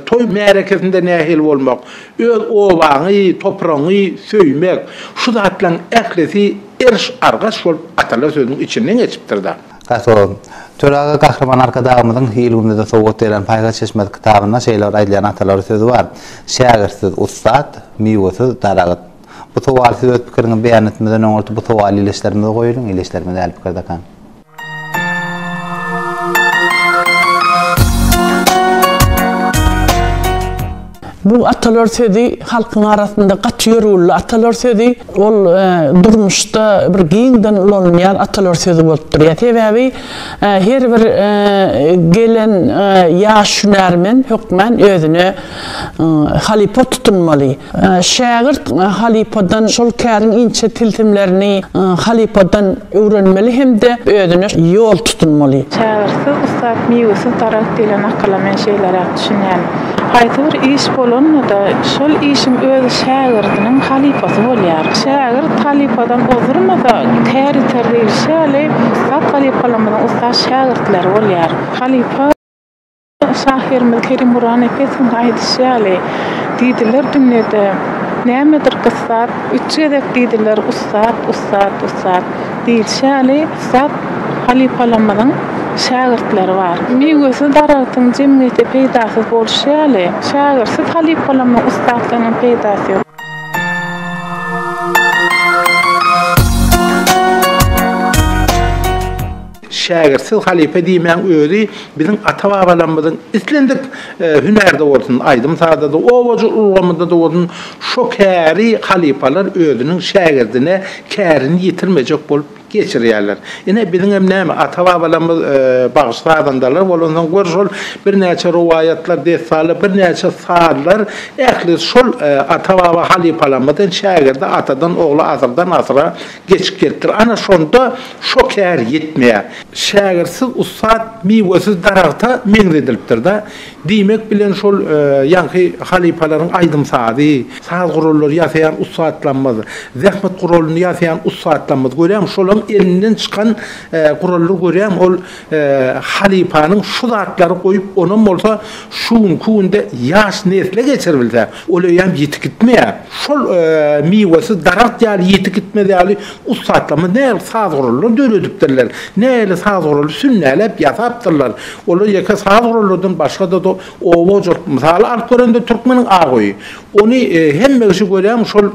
toý märekesinde nähili bolmak, öz obaňy, topragyňy söýmek, şu zatlaň ählisi eriş-argaç bolup atalar sözüniň içinden geçipdir-da. Gaty gowy. Töre aga Gahryman Arkadagymyzyň hil günüde sowgat beren Paýhas çeşmesi kitabynda şeýle bir aýdylýan atalar sözi bar, Şägirtsiz ussat, miwesiz daragyt. Bu sowal siz öz pikiriňizi beýan etmeden öňürti bu sowal ileçlerimize goýulyň, ileçlerimiz däl pikirde kan. Bu atalar sözi halkyň arasynda gaty ýörgünli atalar sözi. Ol durmuşda bir giňden ulanylýan atalar sözi bolup durýar. Sebäbi her bir gelen ýaş hünärmen hökmän özüne halypa tutunmaly. Şägirt halypadan şol käriň inçe tilsimlerini halypadan öwrenmeli hem-de özüne ýol tutunmaly. Şägirtsiz ussat, miwesiz daragt diýlen nakyla men şeýleräk düşünýän. Haýsy bir iş bolanda-da, şol işiň özi şägirdiniň halypasy bolýar. Şägirt halypadan ozdurmasa, kär ýiter diýlişi ýaly, ussat halypalarymyzyň ussat şägirtleri bolýar. Halypa. Şahyrymyz Kerim Gurbannepesowyň aýdyşy ýaly, Diýdiler dünýede, nämedir gyssat, Üç gezek diýdiler ussat, ussat, ussat. Diýlişi ýaly, ussat halypalarymyzyň şägirtleri bar. Miwesiz daragtyň jemgyýete peýdasyz bolşy ýaly, şägirtsiz halypalarymyzyň ussatlygynyň peýdasy ýok. Şägirt, siz halypa diýmäň, özi biziň ata-babalarymyzyň islendik hünärde bolsun, aýdym-sazda-da, obajyk ulgamynda-da bolsun, şo käri halypalar özüniň şägirdine kärini ýitirmejek bolup geçirýärler. Ine, biziňem näme, ata-babalarymyz bagşy-sazandalar bolansoň, gör, şol birnäçe rowaýatlar, dessanlar, birnäçe sazlar ähli şol ata-baba halypalarymyzdan şägirde, atadan-ogla, asyrdan-asyra Geçip gelipdir. Ana şonda şo kär ýetmeýär. Şägirtsiz ussat miwesiz daragta meňzedilipdir-da. Diýmek bilen şol ýaňky halypalaryň aýdym-sazy, saz gurallary ýasaýan ussatlarymyz, zähmet guralyny ýasaýan ussatlarymyz, görýäňmi, şolaryň elinden çykan gurallar görýäňmi, ol Halypanyň şu zatlary goýup, onam bolsa şu günki günde ýaş nesle geçiribilse, ol öýem ýitip gitmeýär. Şol miwesiz daragt ýaly ýitip gitmez ýaly ussatlarymyz nähili saz gurallar döredipdirler, nähili saz guraly sünnäläp ýasapdyrlar. Olar ýeke saz gurallardan başga-da oba hojalyk mysaly alyp görende türkmeniň agoýy. Ony hemme kişi görýärmi, şol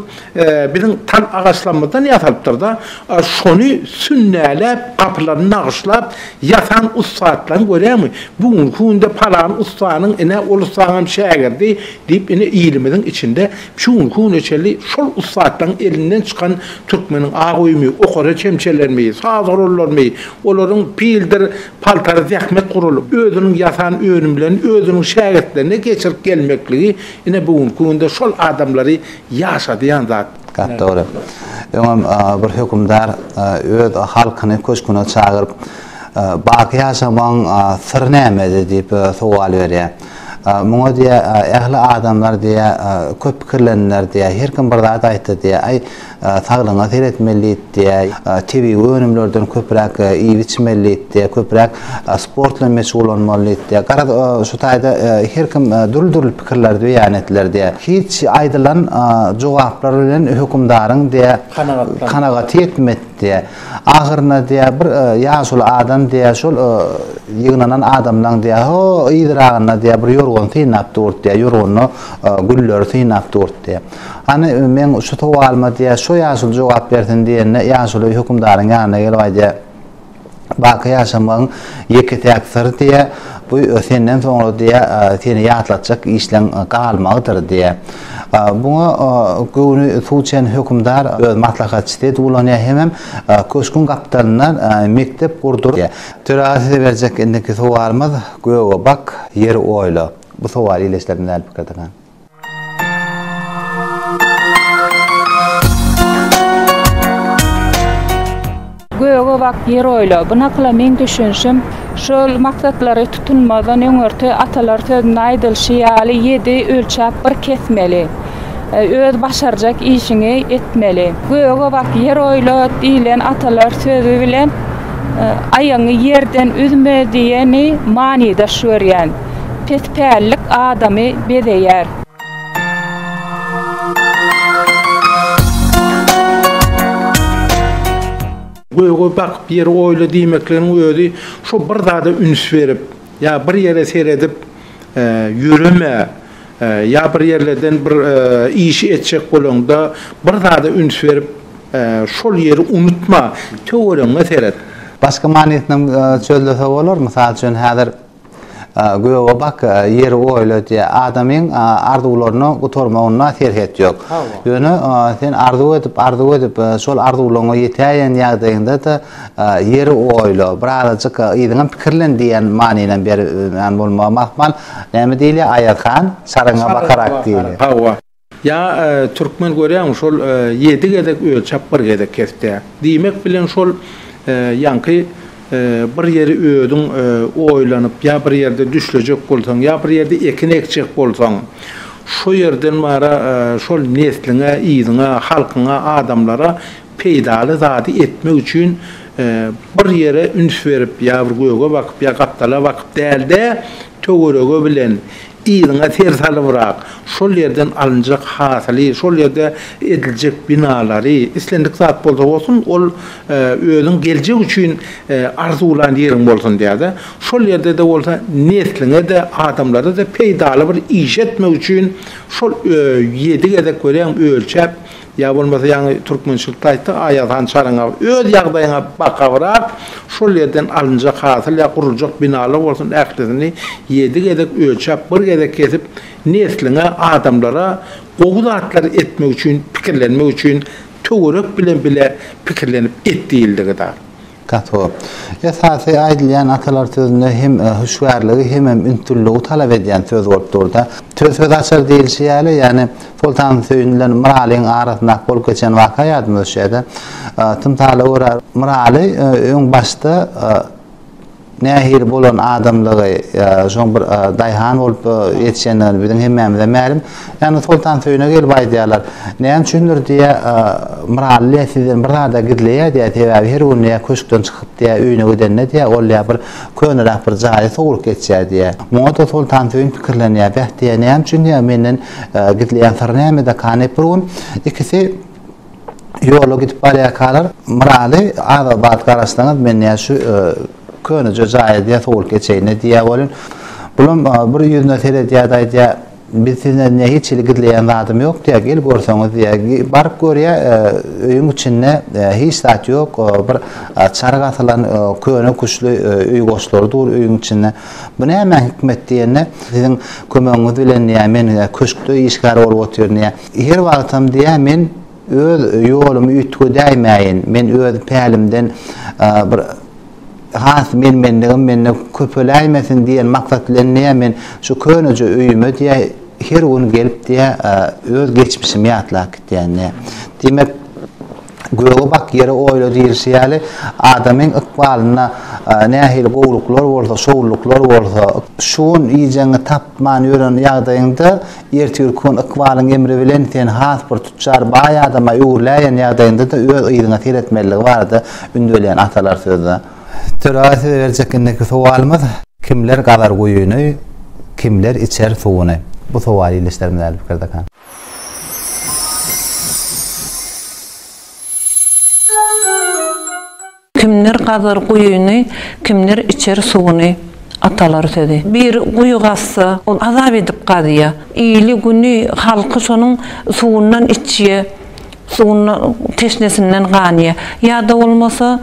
Biziň tal agaçlarymyzdan ýasalypdyr-da, şony sünnäläp, gapylaryny nagyşlap ýasan ussatlaryň görýäňmi, bu günki günde palan ussanyň, ine, ol ussanyňam şägirdi diýip, ine, ilimiziň içinde şu günki güne çenli şol ussatlaryň elinden çykan türkmeniň ak öýümi, okara çemçelerimi, saz gurallarymy, olaryň pildir paltary zähmet guraly, özüniň ýasan önümlerini özüniň şägirtlerine geçirip gelmekligi, ine, bu günki günde şol adamlary Ýaşa diýen zat. Gap dogry. Öňem bir hökümdar öz halkyny köşküne çagyryp, Baky ýaşamagyň syry nämede diýip sowal berýär. Muňa diýýär, Ähli adamlar diýýär, köp pikirlendiler diýýär, her kim bir zat aýtdy diýýär. Aý, saglygyňa seretmeli diýýär. diýär. Tebigy önümlerden köpräk iýip-içmeli diýipdi, köpräk sport bilen meşgullanmaly diýipdi. Garaz, şu taýda her kim dürli-dürli pikirleri beýan etdiler diýär. Hiç aýdylan jogaplar bilen hökümdaryň diýär, kanagaty ýetmedi diýär. Ahyryna diýär, bir ýaşuly adam diýär, şol ýygnanan adamlaryň diýär, ho yzyragynda diýär, bir ýorgan synap durdy diýär, ýorganda gülleri synap durdy diýär. Hany, meň şu sowalyma diýýär, şo ýaşuly jogap bersin diýende, ýaşuly hökümdaryň ýanyna gelip aýdýar, Baky ýaşamagyň ýeke-täk syry diýýär, bu senden soňra diýýär, seni ýatlatjak işleň galmagydyr diýýär. Buňa göwni suw çen hökümdar öz maslahatçysy edip ulanýar hemem köşgüň gapdalyndan mekdep gurdur diýýär. Töräge size berjek indiki sowalymyz, Göge bak, ýeri oýla. Bu sowaly ýerleşdirdim däl pikirdiňiz. Göge bak, ýer oýla. Bu nakyla meň düşünişim, şol maksatlary tutunmazdan öňürti atalar sözünde aýdylyşy ýaly ýedi ölçäp bir kesmeli. Öz başarjak işiňi etmeli. Göge bak, ýer oýla diýlen atalar sözi bilen aýagyňy ýerden üzme diýeni manydaş görýän. Pes pällik adamy bezeýär. Göge bakyp ýeri oýla diýmekligiň özi şo bir zada üns berip, ýa bir ýere seredip ýöreme, ýa bir ýerlerden bir işi etjek bolaňda bir zada üns berip şol ýeri unutma, töweregiňe seret. Başga manysynam çözlese bolar, mysal üçin häzir. Göge bak, ýeri oýla diýýär. Adamyň arzuwlaryna gutarmagynda serhet ýok. Ýöne sen arzuw edip, arzuw edip, şol arzuwlaryňa ýetäýen ýagdaýyňda-da ýeri oýla, birazajyk yzyňam pikirlen diýen manyny berýän bolmagy mahmal. Näme diýilýär, Aýazhan, çaryňa bakarak diýilýär. Ýa türkmen görýäňmi şol ýedi gezek ölçäp bir gezek kesdä. Diýmek bilen şol ýaňky bir ýeri özüň oýlanyp ýa bir ýerde düşlejek bolsaň ýa bir ýerde ekin ekjek bolsaň şo ýerden bara şol nesliňe yzyňa halkyňa adamlara peýdaly zady etmek üçin bir ýere üns berip ýa bir göge bakyp ýa gapdala bakyp dälde töwerege bilen Yzyňa ser salybrak, şol ýerden alynjak hasyly, şol ýerde ediljek binalary, islendik zat bolsa bolsun, ol özüň geljek üçin arzuwlan ýeriň bolsun diýýär-de. Şol ýerde-de bolsa nesliňe-de, adamlara-da peýdaly bir iş etmek üçin şol ýedi gezek welin ölçäp, Ýa bolmasa ýaňy türkmençilikde aýtdyk, Aýaz han çaryň aw, öz ýagdaýyňa bak awrak, şol ýerden alynjak hasyl ýa guruljak binalar bolsun ählisini ýedi gezek ölçäp, bir gezek kesip, nesliňe, adamlara gowy zatlary etmek üçin, pikirlenmek üçin töwerek bilen bile pikirlenip et diýildigidä. Gato. Esasy aýdylýan atalar sözünde hem hüşgärligi hemem ünsülligi talap edýän söz bolup dur-da. Söz söz açar diýilşi ýaly, ýagny Soltansöýün bilen Myralyň arasyndaky bolup geçen waka ýadyma düşýä-de. Tymsala görä, Myraly öň başda. Nähili bolan adamlygy, şoň bir daýhan bolup ýetişendigini biziň hemmämize mälim. Ýagny Soltansöýüne gelip aýdýarlar. Näme üçindir diýýä, Myraly diýýä sizden bir zada gizleýä diýýä, sebäbi her gün diýýä köşkden çykyp diýýä öýüne gidende diýýä, ol diýýä bir köneräk bir jaýy sowrup geçýär diýýä. Muňa-da Soltansöýün pikirlenýär, Beh diýýä, näme üçin diýýä menden gizleýän syry nämede kany? Bir gün ikisi. ýola gidip barýarkalar Myraly aga bat garaşsaňyz men diýýär şu köneje jaýa diýýär sowulyp geçeýine diýýär welin bulam bir ýüzüne seredýärdi aýdýar biz sizden diýýär hiç hili gizleýän zadym ýok diýýär gel görseňiz diýýär baryp görýär öýüň içinde hiç zat ýok bir çaryk asylan köne küşli öý goşlary dur öýüň içinde bu nämäň hikmet diýende siziň kömegiňiz bilen diýýär men köşkde işgär bolup otyryn diýýär Her wagtam diýýär, men öz ýolumy üýtgedäýmäýin, men öz pälimden bir has men-menligim mende köpeläýmesin diýen maksat bilen diýýär, men şu köneje öýüme diýýär, her gün gelip diýýär, öz geçmişimi ýatlap gidýän diýýär. Diýmek, Göge bak, ýere oýla diýlişi ýaly, adamyň ykbalynda nähili gowulyklar bolsa, şowlulyklar bolsa, şu gün iýjegiňi tap, Many ýören ýagdaýyňda, ertir kün ykbalyň emri bilen sen has bir tütjar, baý adama öwrüläýen ýagdaýyňda-da öz yzyňa seretmelidigi barada ündeleýän atalar sözde. Töre size berjek indiki sowalymyz, Kimler gazar guýyny, kimler içer suwuny? Bu sowal ildeşlerimiz äli pikirde. Kimdir gazar guýyny, kimdir içer suwuny. Atalar sözi. Bir guýy gazsa, ol azap edip gazýa. Ili, güni, halky şonuň suwundan içýä, suwundan, teşnesinden ganýa. Ýa-da bolmasa,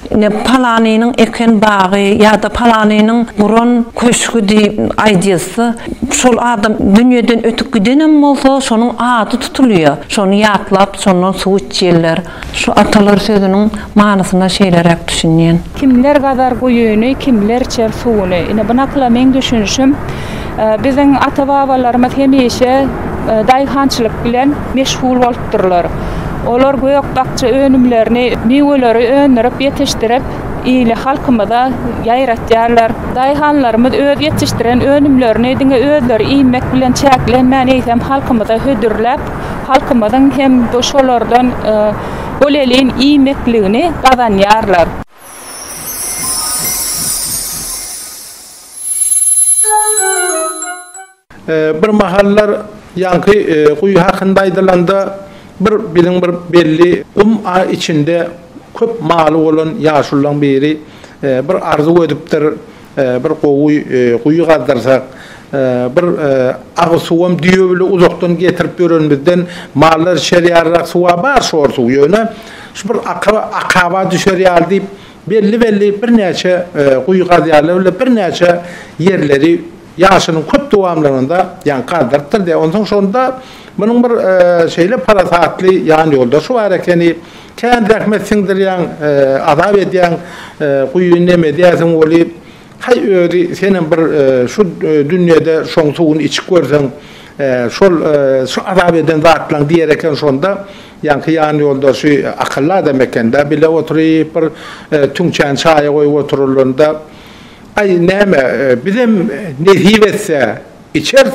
ine, palanynyň eken bagy ýa-da palanynyň guran köşgi diýip aýdylsa, şol adam dünýeden ötüp gidenem bolsa, şonuň ady tutulýa. Şony ýatlap, şondan suw içýärler. Şu atalar sözüniň manysyna şeýleräk düşünýän. Kimler gazar guýyny, kimler içer suwuny. Ine bu nakyla meň düşünişim. Biziň ata-babalarymyz hemişe daýhançylyk bilen meşgul bolupdyrlar. Olar gök-bakja önümlerini, miweleri öndürip, ýetişdirip, ili, halkymyza ýaýratýarlar. Daýhanlarymyz öz ýetişdiren önümlerini diňe özleri iýmek bilen çäklenmän, eýsem, halkymyza hödürläp, halkymyzyň hem şolardan bolelin iýmekligini gazanýarlar. Bir mahallar ýaňky guýy hakynda aýdylanda, bir biziň bir belli gum içinde köp maly bolan ýaşullaň biri bir arzuw edipdir. Bir gowy guýy gazdyrsak, bir agyz suwam düýe bile uzakdan getirip ýörenimizden mallar içer ýalyrak suwa bar şor suw. Ýöne şu bir akyr akaba düşer ýaly diýip, belli-belli birnäçe guýy gazýarlar bile birnäçe ýerleri ýaşynyň köp dowamlygynda ýaňy gazdyrypdyr diýýär. Onsoň şonda munuň bir şeýle parasatly ýanýoldaşy bar ekeni. Kän zähmet siňdirýäň, azap edýäň, guýy nem edýärsiň weli, haý özi senem bir şu dünýede şoň suwuny içip görseň, şol şu azap eden zatlaň diýer eken şonda, ýaňky ýan ýoldaşy akylly adam ekendä bile oturyp bir tüňçäni çaýa goýup oturylanda, aý näme bizem nesip etse, Içeris,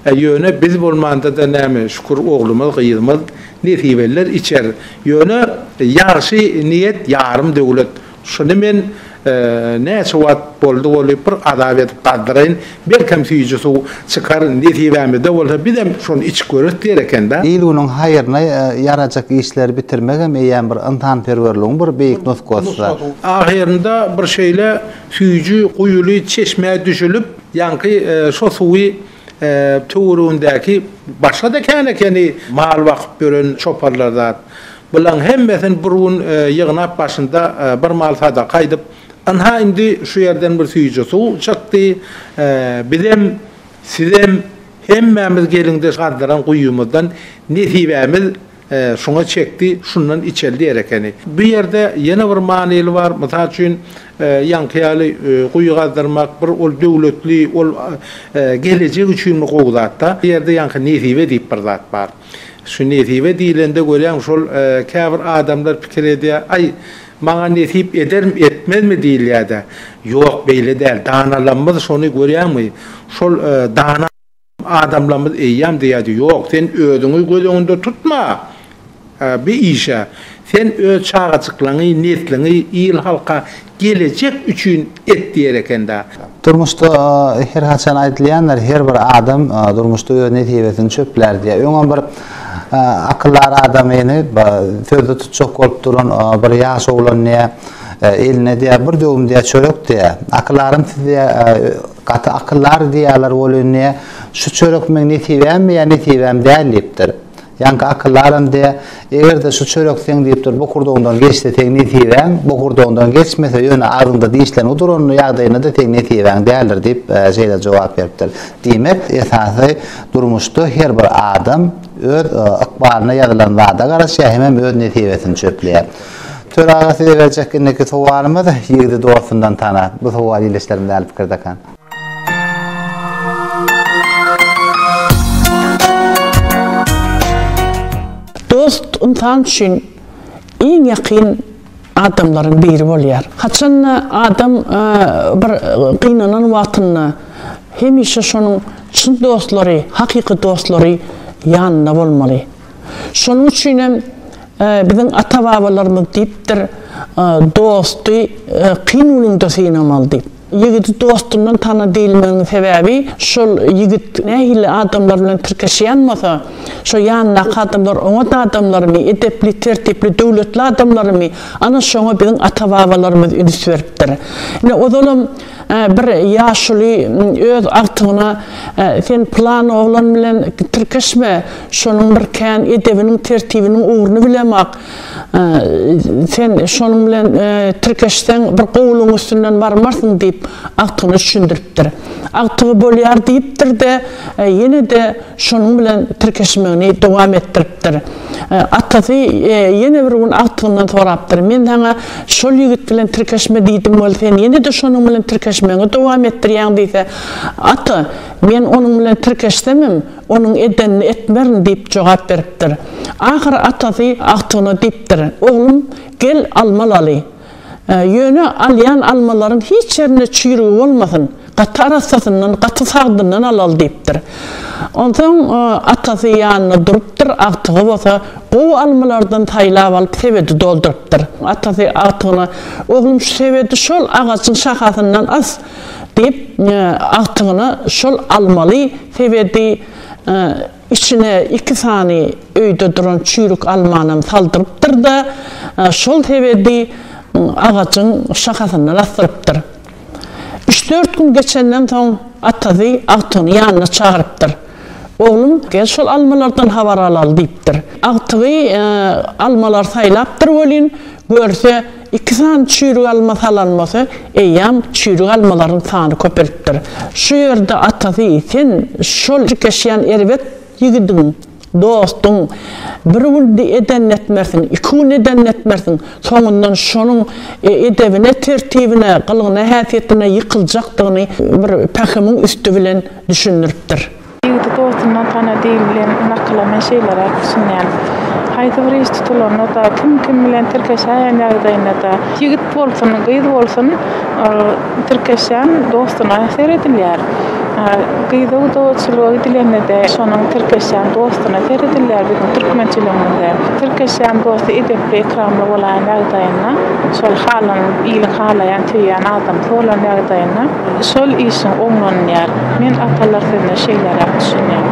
e, ýöne biz bolmanda-da näme, şükür, oglumyz, gyzymyz, nesibeliler içer. Ýöne ýagşy niýet ýarym döwlet. Şuny men, e, näçe wagt boldy bolup, bir azap edip gazdyraýyn, belkem süýji suw çykar, nesibämizde bolsa bizem şony içip göreris diýer eken-dä. Il-günüň haýryna ýarajak işleri bitirmegem eýýäm bir ynsanperwerligiň bir beýik nusgasy-da. Ahyrynda bir şeýle süýji guýuly çeşmä düşülip, Ýaňky şo suwy töweregindäki başga-da känekeni mal bakyp ýören çoparlar zat. Bulaň hemmesini bir gün ýygnap başynda bir mal sadaka aýdyp, Ynha indi şu ýerden bir süýji suw çykdy, bizem, sizem hemmämiz geliň-de şadyran guýumyzdan nesibämiz Şuňa çekdi, şundan içeli diýer ekeni. Bu ýerde ýene bir manyly bar. Mysal üçin, ýaňky ýaly guýy gazdyrmak, bir ol döwletli, ol gelejek üçin gowy zat-da. Bu ýerde ýaňky nesibe diýip bir zat bar. Şu nesibe diýlende görýäňmi, şol käbir adamlar pikir edýär, Aý, maňa nesip edermi, etmezmi diýilýär-dä. Ýok, beýle däl. Danalarymyz şony görýäňmi, şol dana. Adamlarymyz eýýäm diýýärdi, Ýok, sen özüňi göz öňünde tutma bi işe. Sen öz çagajyklaňy, nesliňi, il-halka gelejek üçin et diýer eken-dä. Durmuşda her haçan aýdylýandyr, Her bir adam durmuşda öz nesibesini çöplär diýýär. Öňem bir akyldar adamyny sözde tutjak bolup duran bir ýaş oglan diýýär, Eline diýýär, bir döwüm diýýär çörek diýýär. Akylarym siz diýýär, Gaty akyldary diýýärler ol indi şu çörek meň nesibämmi ýa nesibäm däl diýipdir. Ýaňky akyldaram de eger-de şu çörek seň diýipdir bokurdagyňdan geçse seň nesibäň, bokurdagyňdan geçmese ýöne agzyňda dişleriň uduran ýagdaýynda-da seň nesibäň däldir diýip şeýle jogap beripdir. Diýmek esasy durmuşda her bir adam öz ykbalyna ýazylan zada garaşýar hemem öz nesibesini çöpleýär. Tör aga size berjek indiki sowalymyz ýigidi dostundan tana. Bu sowal ildeşlerimiz äli pikir dakan. Dost ynsan üçin iň ýakyn adamlaryň biri bolýar. Haçanda adam bir gynanan wagtynda hemişe şonuň çyn dostlary, hakyky dostlary ýanynda bolmaly. Şonuň üçin hem biziň ata-babalarymyz diýipdir, Dosty kyn günüňde synamaly diýip. Ýigidi dostundan tana diýilmeginiň sebäbi, şol ýigit nähili adamlar bilen tirkeşýän bolsa, şo ýanyndaky adamlar oňat adamlarymy, edepli, tertipli, döwletli adamlarymy, ana şoňa biziň ata-babalarymyz üns beripdir. Ine, ozalam Bir ýaşuly öz agtygyna Sen pylan oglan bilen tirkeşme, şonuň bir kän edebiniň, tertibiniň ugruny bilemok. Sen şonuň bilen tirkeşseň, bir gowulygyň üstünden barmarsyň diýip, agtygyna düşündiripdir. Agtygy bolýar diýipdir-de, ýene-de şonuň bilen tirkeşmegini dowam etdiripdir. Atasy ýene bir gün agtygyndan sorapdyr, Men saňa şol ýigit bilen tirkeşme diýdim weli, sen ýene-de şonuň bilen tirkeşmegiňi dowam etdirýäň diýse, Ata, men onuň bilen tirkeşsemem, onuň edenini etmerin diýip jogap beripdir. Ahyry atasy agtygyna diýipdir, Oglum, gel alma laly. Ýöne alýan almalaryň hiç ýerinde çüýrügi bolmasyn, gaty arassasyndan, gaty sagdyndan alaly diýipdir. Onsoň atasy ýanynda durupdyr, agtygy bolsa gowy almalardan saýlap alyp sebedi doldurypdyr. Atasy agtygyna, Oglum, şu sebedi şol agajyň şahasyndan as! diýip, agtygyna şol almaly sebedi, Içine iki sany öýde duran çüýrük almanam saldyrypdyr-da, şol sebedi agajyň şahasyndan asdyrypdyr. Üç-dört gün geçenden soň atasy agtygyny ýanyna çagyrypdyr. Oglum, gel şol almalardan habar alaly diýipdir. Agtygy almalary saýlapdyr welin, görse, Iki sany çüýrük alma salan bolsa, eýýäm çüýrük almalaryň sany köpelipdir. Şu ýerde atasy, Sen şol tirkeşýän erbet ýigidiň, dostuň, bir gün edennetmersiň, iki gün edennetmersiň, soňundan şonuň edebine, tertibine, gylgyna-häsiýetine ýykyljakdygyny bir pähimiň üsti bilen düşündiripdir. Ýigidi dostundan tana dil bilen nakyla men şeýleräk düşünýän. Haýsy bir iş tutulanda-da, kim-kim bilen tirkeşäýen ýagdaýynda-da, ýigit bolsun, gyz bolsun, tirkeşýän dostuna seredilýär. Gyza gudaçylyga gidilende-de, şonuň tirkeşýän dostuna seredilýär biziň türkmençiligimizde. Tirkeşýän dosty edepli-ekramly bolan ýagdaýynda, şol halan, iliň halaýan, söýýän adamsy bolan ýagdaýynda. Şol işiň oňlanylýar. Men atalar sözüne şeýleräk düşünýän.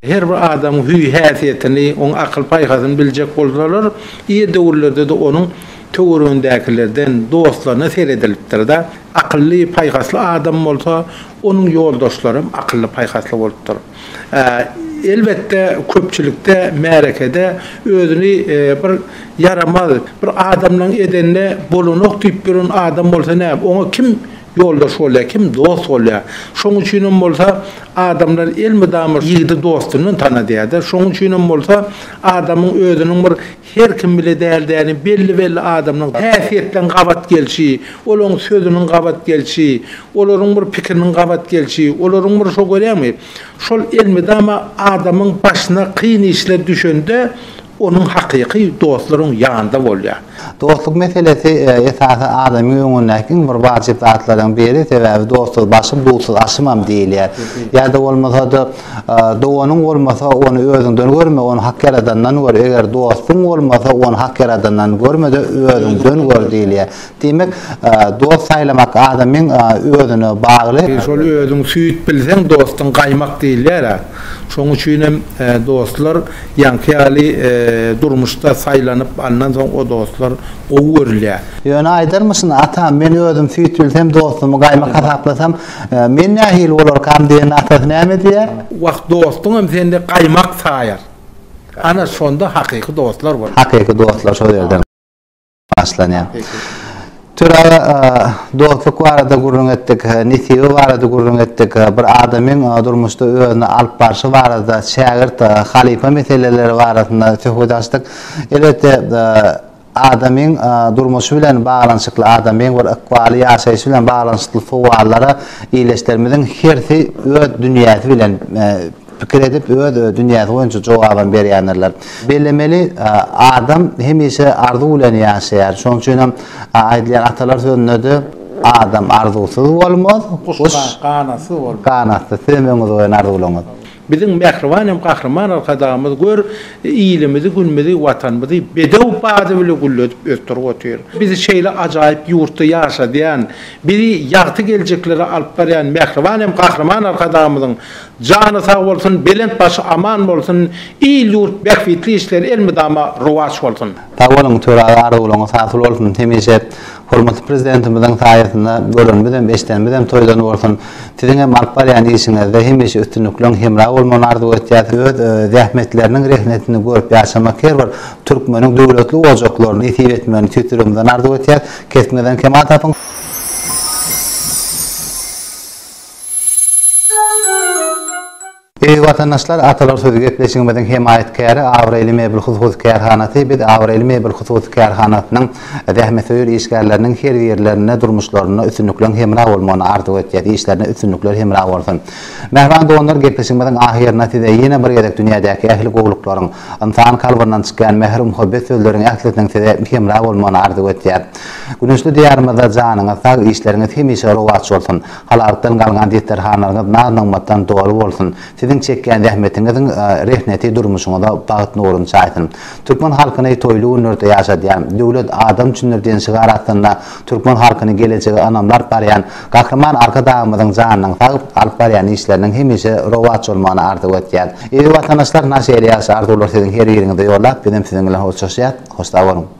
Her bir adamyň hüý-häsiýetini, onuň akyl-paýhasyny biljek bolsalar, ir döwürlerde-de onuň töweregindäkilerden, dostlaryna seredilipdir-de. Akylly, paýhasly adam bolsa, onuň ýoldaşlary hem akylly-paýhasly bolupdyr. Elbetde, köpçülikde, märekede özüni bir ýaramaz, bir adamlaň edende bolanok diýip ýören adam bolsa näme, oňa kim ýoldaş bolýar, kim dost bolýar? Şoň üçinem bolsa adamlar elmydama ýigidi dostundan tanadýar-da. Şoň üçinem bolsa adamyň özüniň bir. Her kim bile däl-däli belli-belli adamlaryň häsiýetleň gabat gelşi, olaryň sözüniň gabat gelşi, olaryň bir pikiriniň gabat gelşi, olaryň bir şo görýäňmi, şol elmydama adamyň başyna kyn işler düşende onuň hakyky dostlar oň ýanynda bolýar. Dostluk meselesi esasy adamyň öňündäki iň bir wajyp zatlaryň biri, sebäbi dostsuz başym, dutsuz aşymam diýilýär. Ýa-da bolmasa-da Doganyň bolmasa, ony özüňden görme, ony Hak Ýaradandan gör. Eger dostuň bolmasa, ony Hak Ýaradandan görme-de, özüňden gör diýilýär. Diýmek, dost saýlamak adamyň özüne bagly. Şol özüň süýt bilseň, dostuň gaýmak diýilýär-ä. Şonuň üçin hem dostlar ýaňky ýaly durmuşda saýlanyp alnan soň o dostlar gowy görülýär. Ýöne aýdarmyşyn, Atam, men özüm süýt bilsem, dostumy gaýmak hasaplasam, Men nähili bolarkam diýende atasy näme diýer? Wah, dostuňam sende gaýmak saýar. Ana, şonda hakyky dostlar bolar. Hakyky dostlar şol ýerden başlanýar. Töre aga, dostluk barada gürrüň etdik, nesibe barada gürrüň etdik, bir adamyň durmuşda özüni alyp barşy barada, şägirt, halypa meseleleri barasynda söhbet açdyk. Elbetde, Adamyň durmuşy bilen baglanyşykly, adamyň bir ykbaly, ýaşaýşy bilen baglanyşykly sowallara ildeşlerimiziň hersi öz dünýäsi bilen pikir edip, öz dünýäsi boýunça jogabam berýändirler. Bellemeli, adam hemişe arzuw bilen ýaşaýar. Şonuň üçin hem aýdylýan atalar sözünde-de Adam arzuwsyz bolmaz, guş ganatsyz, siz hem öňüňize goýan arzuwlaryňyz. Biziň mähriban hem gahryman Arkadagymyz gör, ilimizi, günümizi, Watanymyzy bedew bady bile gülledip ösdürip otyr. Bizi şeýle ajaýyp ýurtda ýaşadýan, bizi ýagty geljeklere alyp barýan mähriban hem gahryman Arkadagymyzyň jany sag bolsun, belent başy aman bolsun, il-ýurt bähbitli işleri elmydama rowaç bolsun! Sag boluň Töre aga arzuwlaryňyz hasyl bolsun hemişe. Hormatly Prezidentimiziň saýasynda görenimizem, eşidenimizem toýdan bolsun. Siziň hem alyp barýan işiňizde hemişe üstünlikleň hemra bolmagyny arzuw etýäs. Öz zähmetleriniň rehnetini görüp ýaşamak her bir türkmeniň döwletli ojaklaryna nesip etmegini tüýs ýüregimizden arzuw etýäs. Kesbiňizden kemal tapyň! Eziz watandaşlar, Atalar sözi gepleşigimiziň hemaýatkäri Abraýly mebel hususy kärhanasy Biz Abraýly mebel hususy kärhanasynyň zähmetsöýer işgärleriniň her ýerlerinde durmuşlarynda üstünlikleň hemra bolmagyny arzuw etýäs, işlerinde üstünlikler hemra bolsun. Mähriban doganlar gepleşigimiziň ahyrynda size ýene bir gezek dünýädäki ähli gowluklaryň, ynsan kalbyndan çykýan mähir muhabbet sözleriň ählisiniň size hemra bolmagyny arzuw etýäs. Güneşli Diýarymyzda janyňyz sag, işleriňiz hemişe rowaç bolsun. Halalykdan galgan desterhanlaryňyz naz-nygmatdan doly bolsun! Siziň çekýän zähmetiňiziň rehneti durmuşyňyza bagt nuruny çaýsyn! Türkmen halkyny toýly günlerde ýaşadýan, Döwlet adam üçindir diýen şygar astynda türkmen halkyny gelejege ynamly alyp barýan Gahryman Arkadagymyzyň janynyň sag, alyp barýan işleriniň hemişe rowaç bolmagyny arzuw etýän. Eziz watandaşlar, naşe eli ýagşy arzuwlary siziň her ýeriňize ýollap, bizem siziň bilen hoşlaşýas. Hoşsag boluň!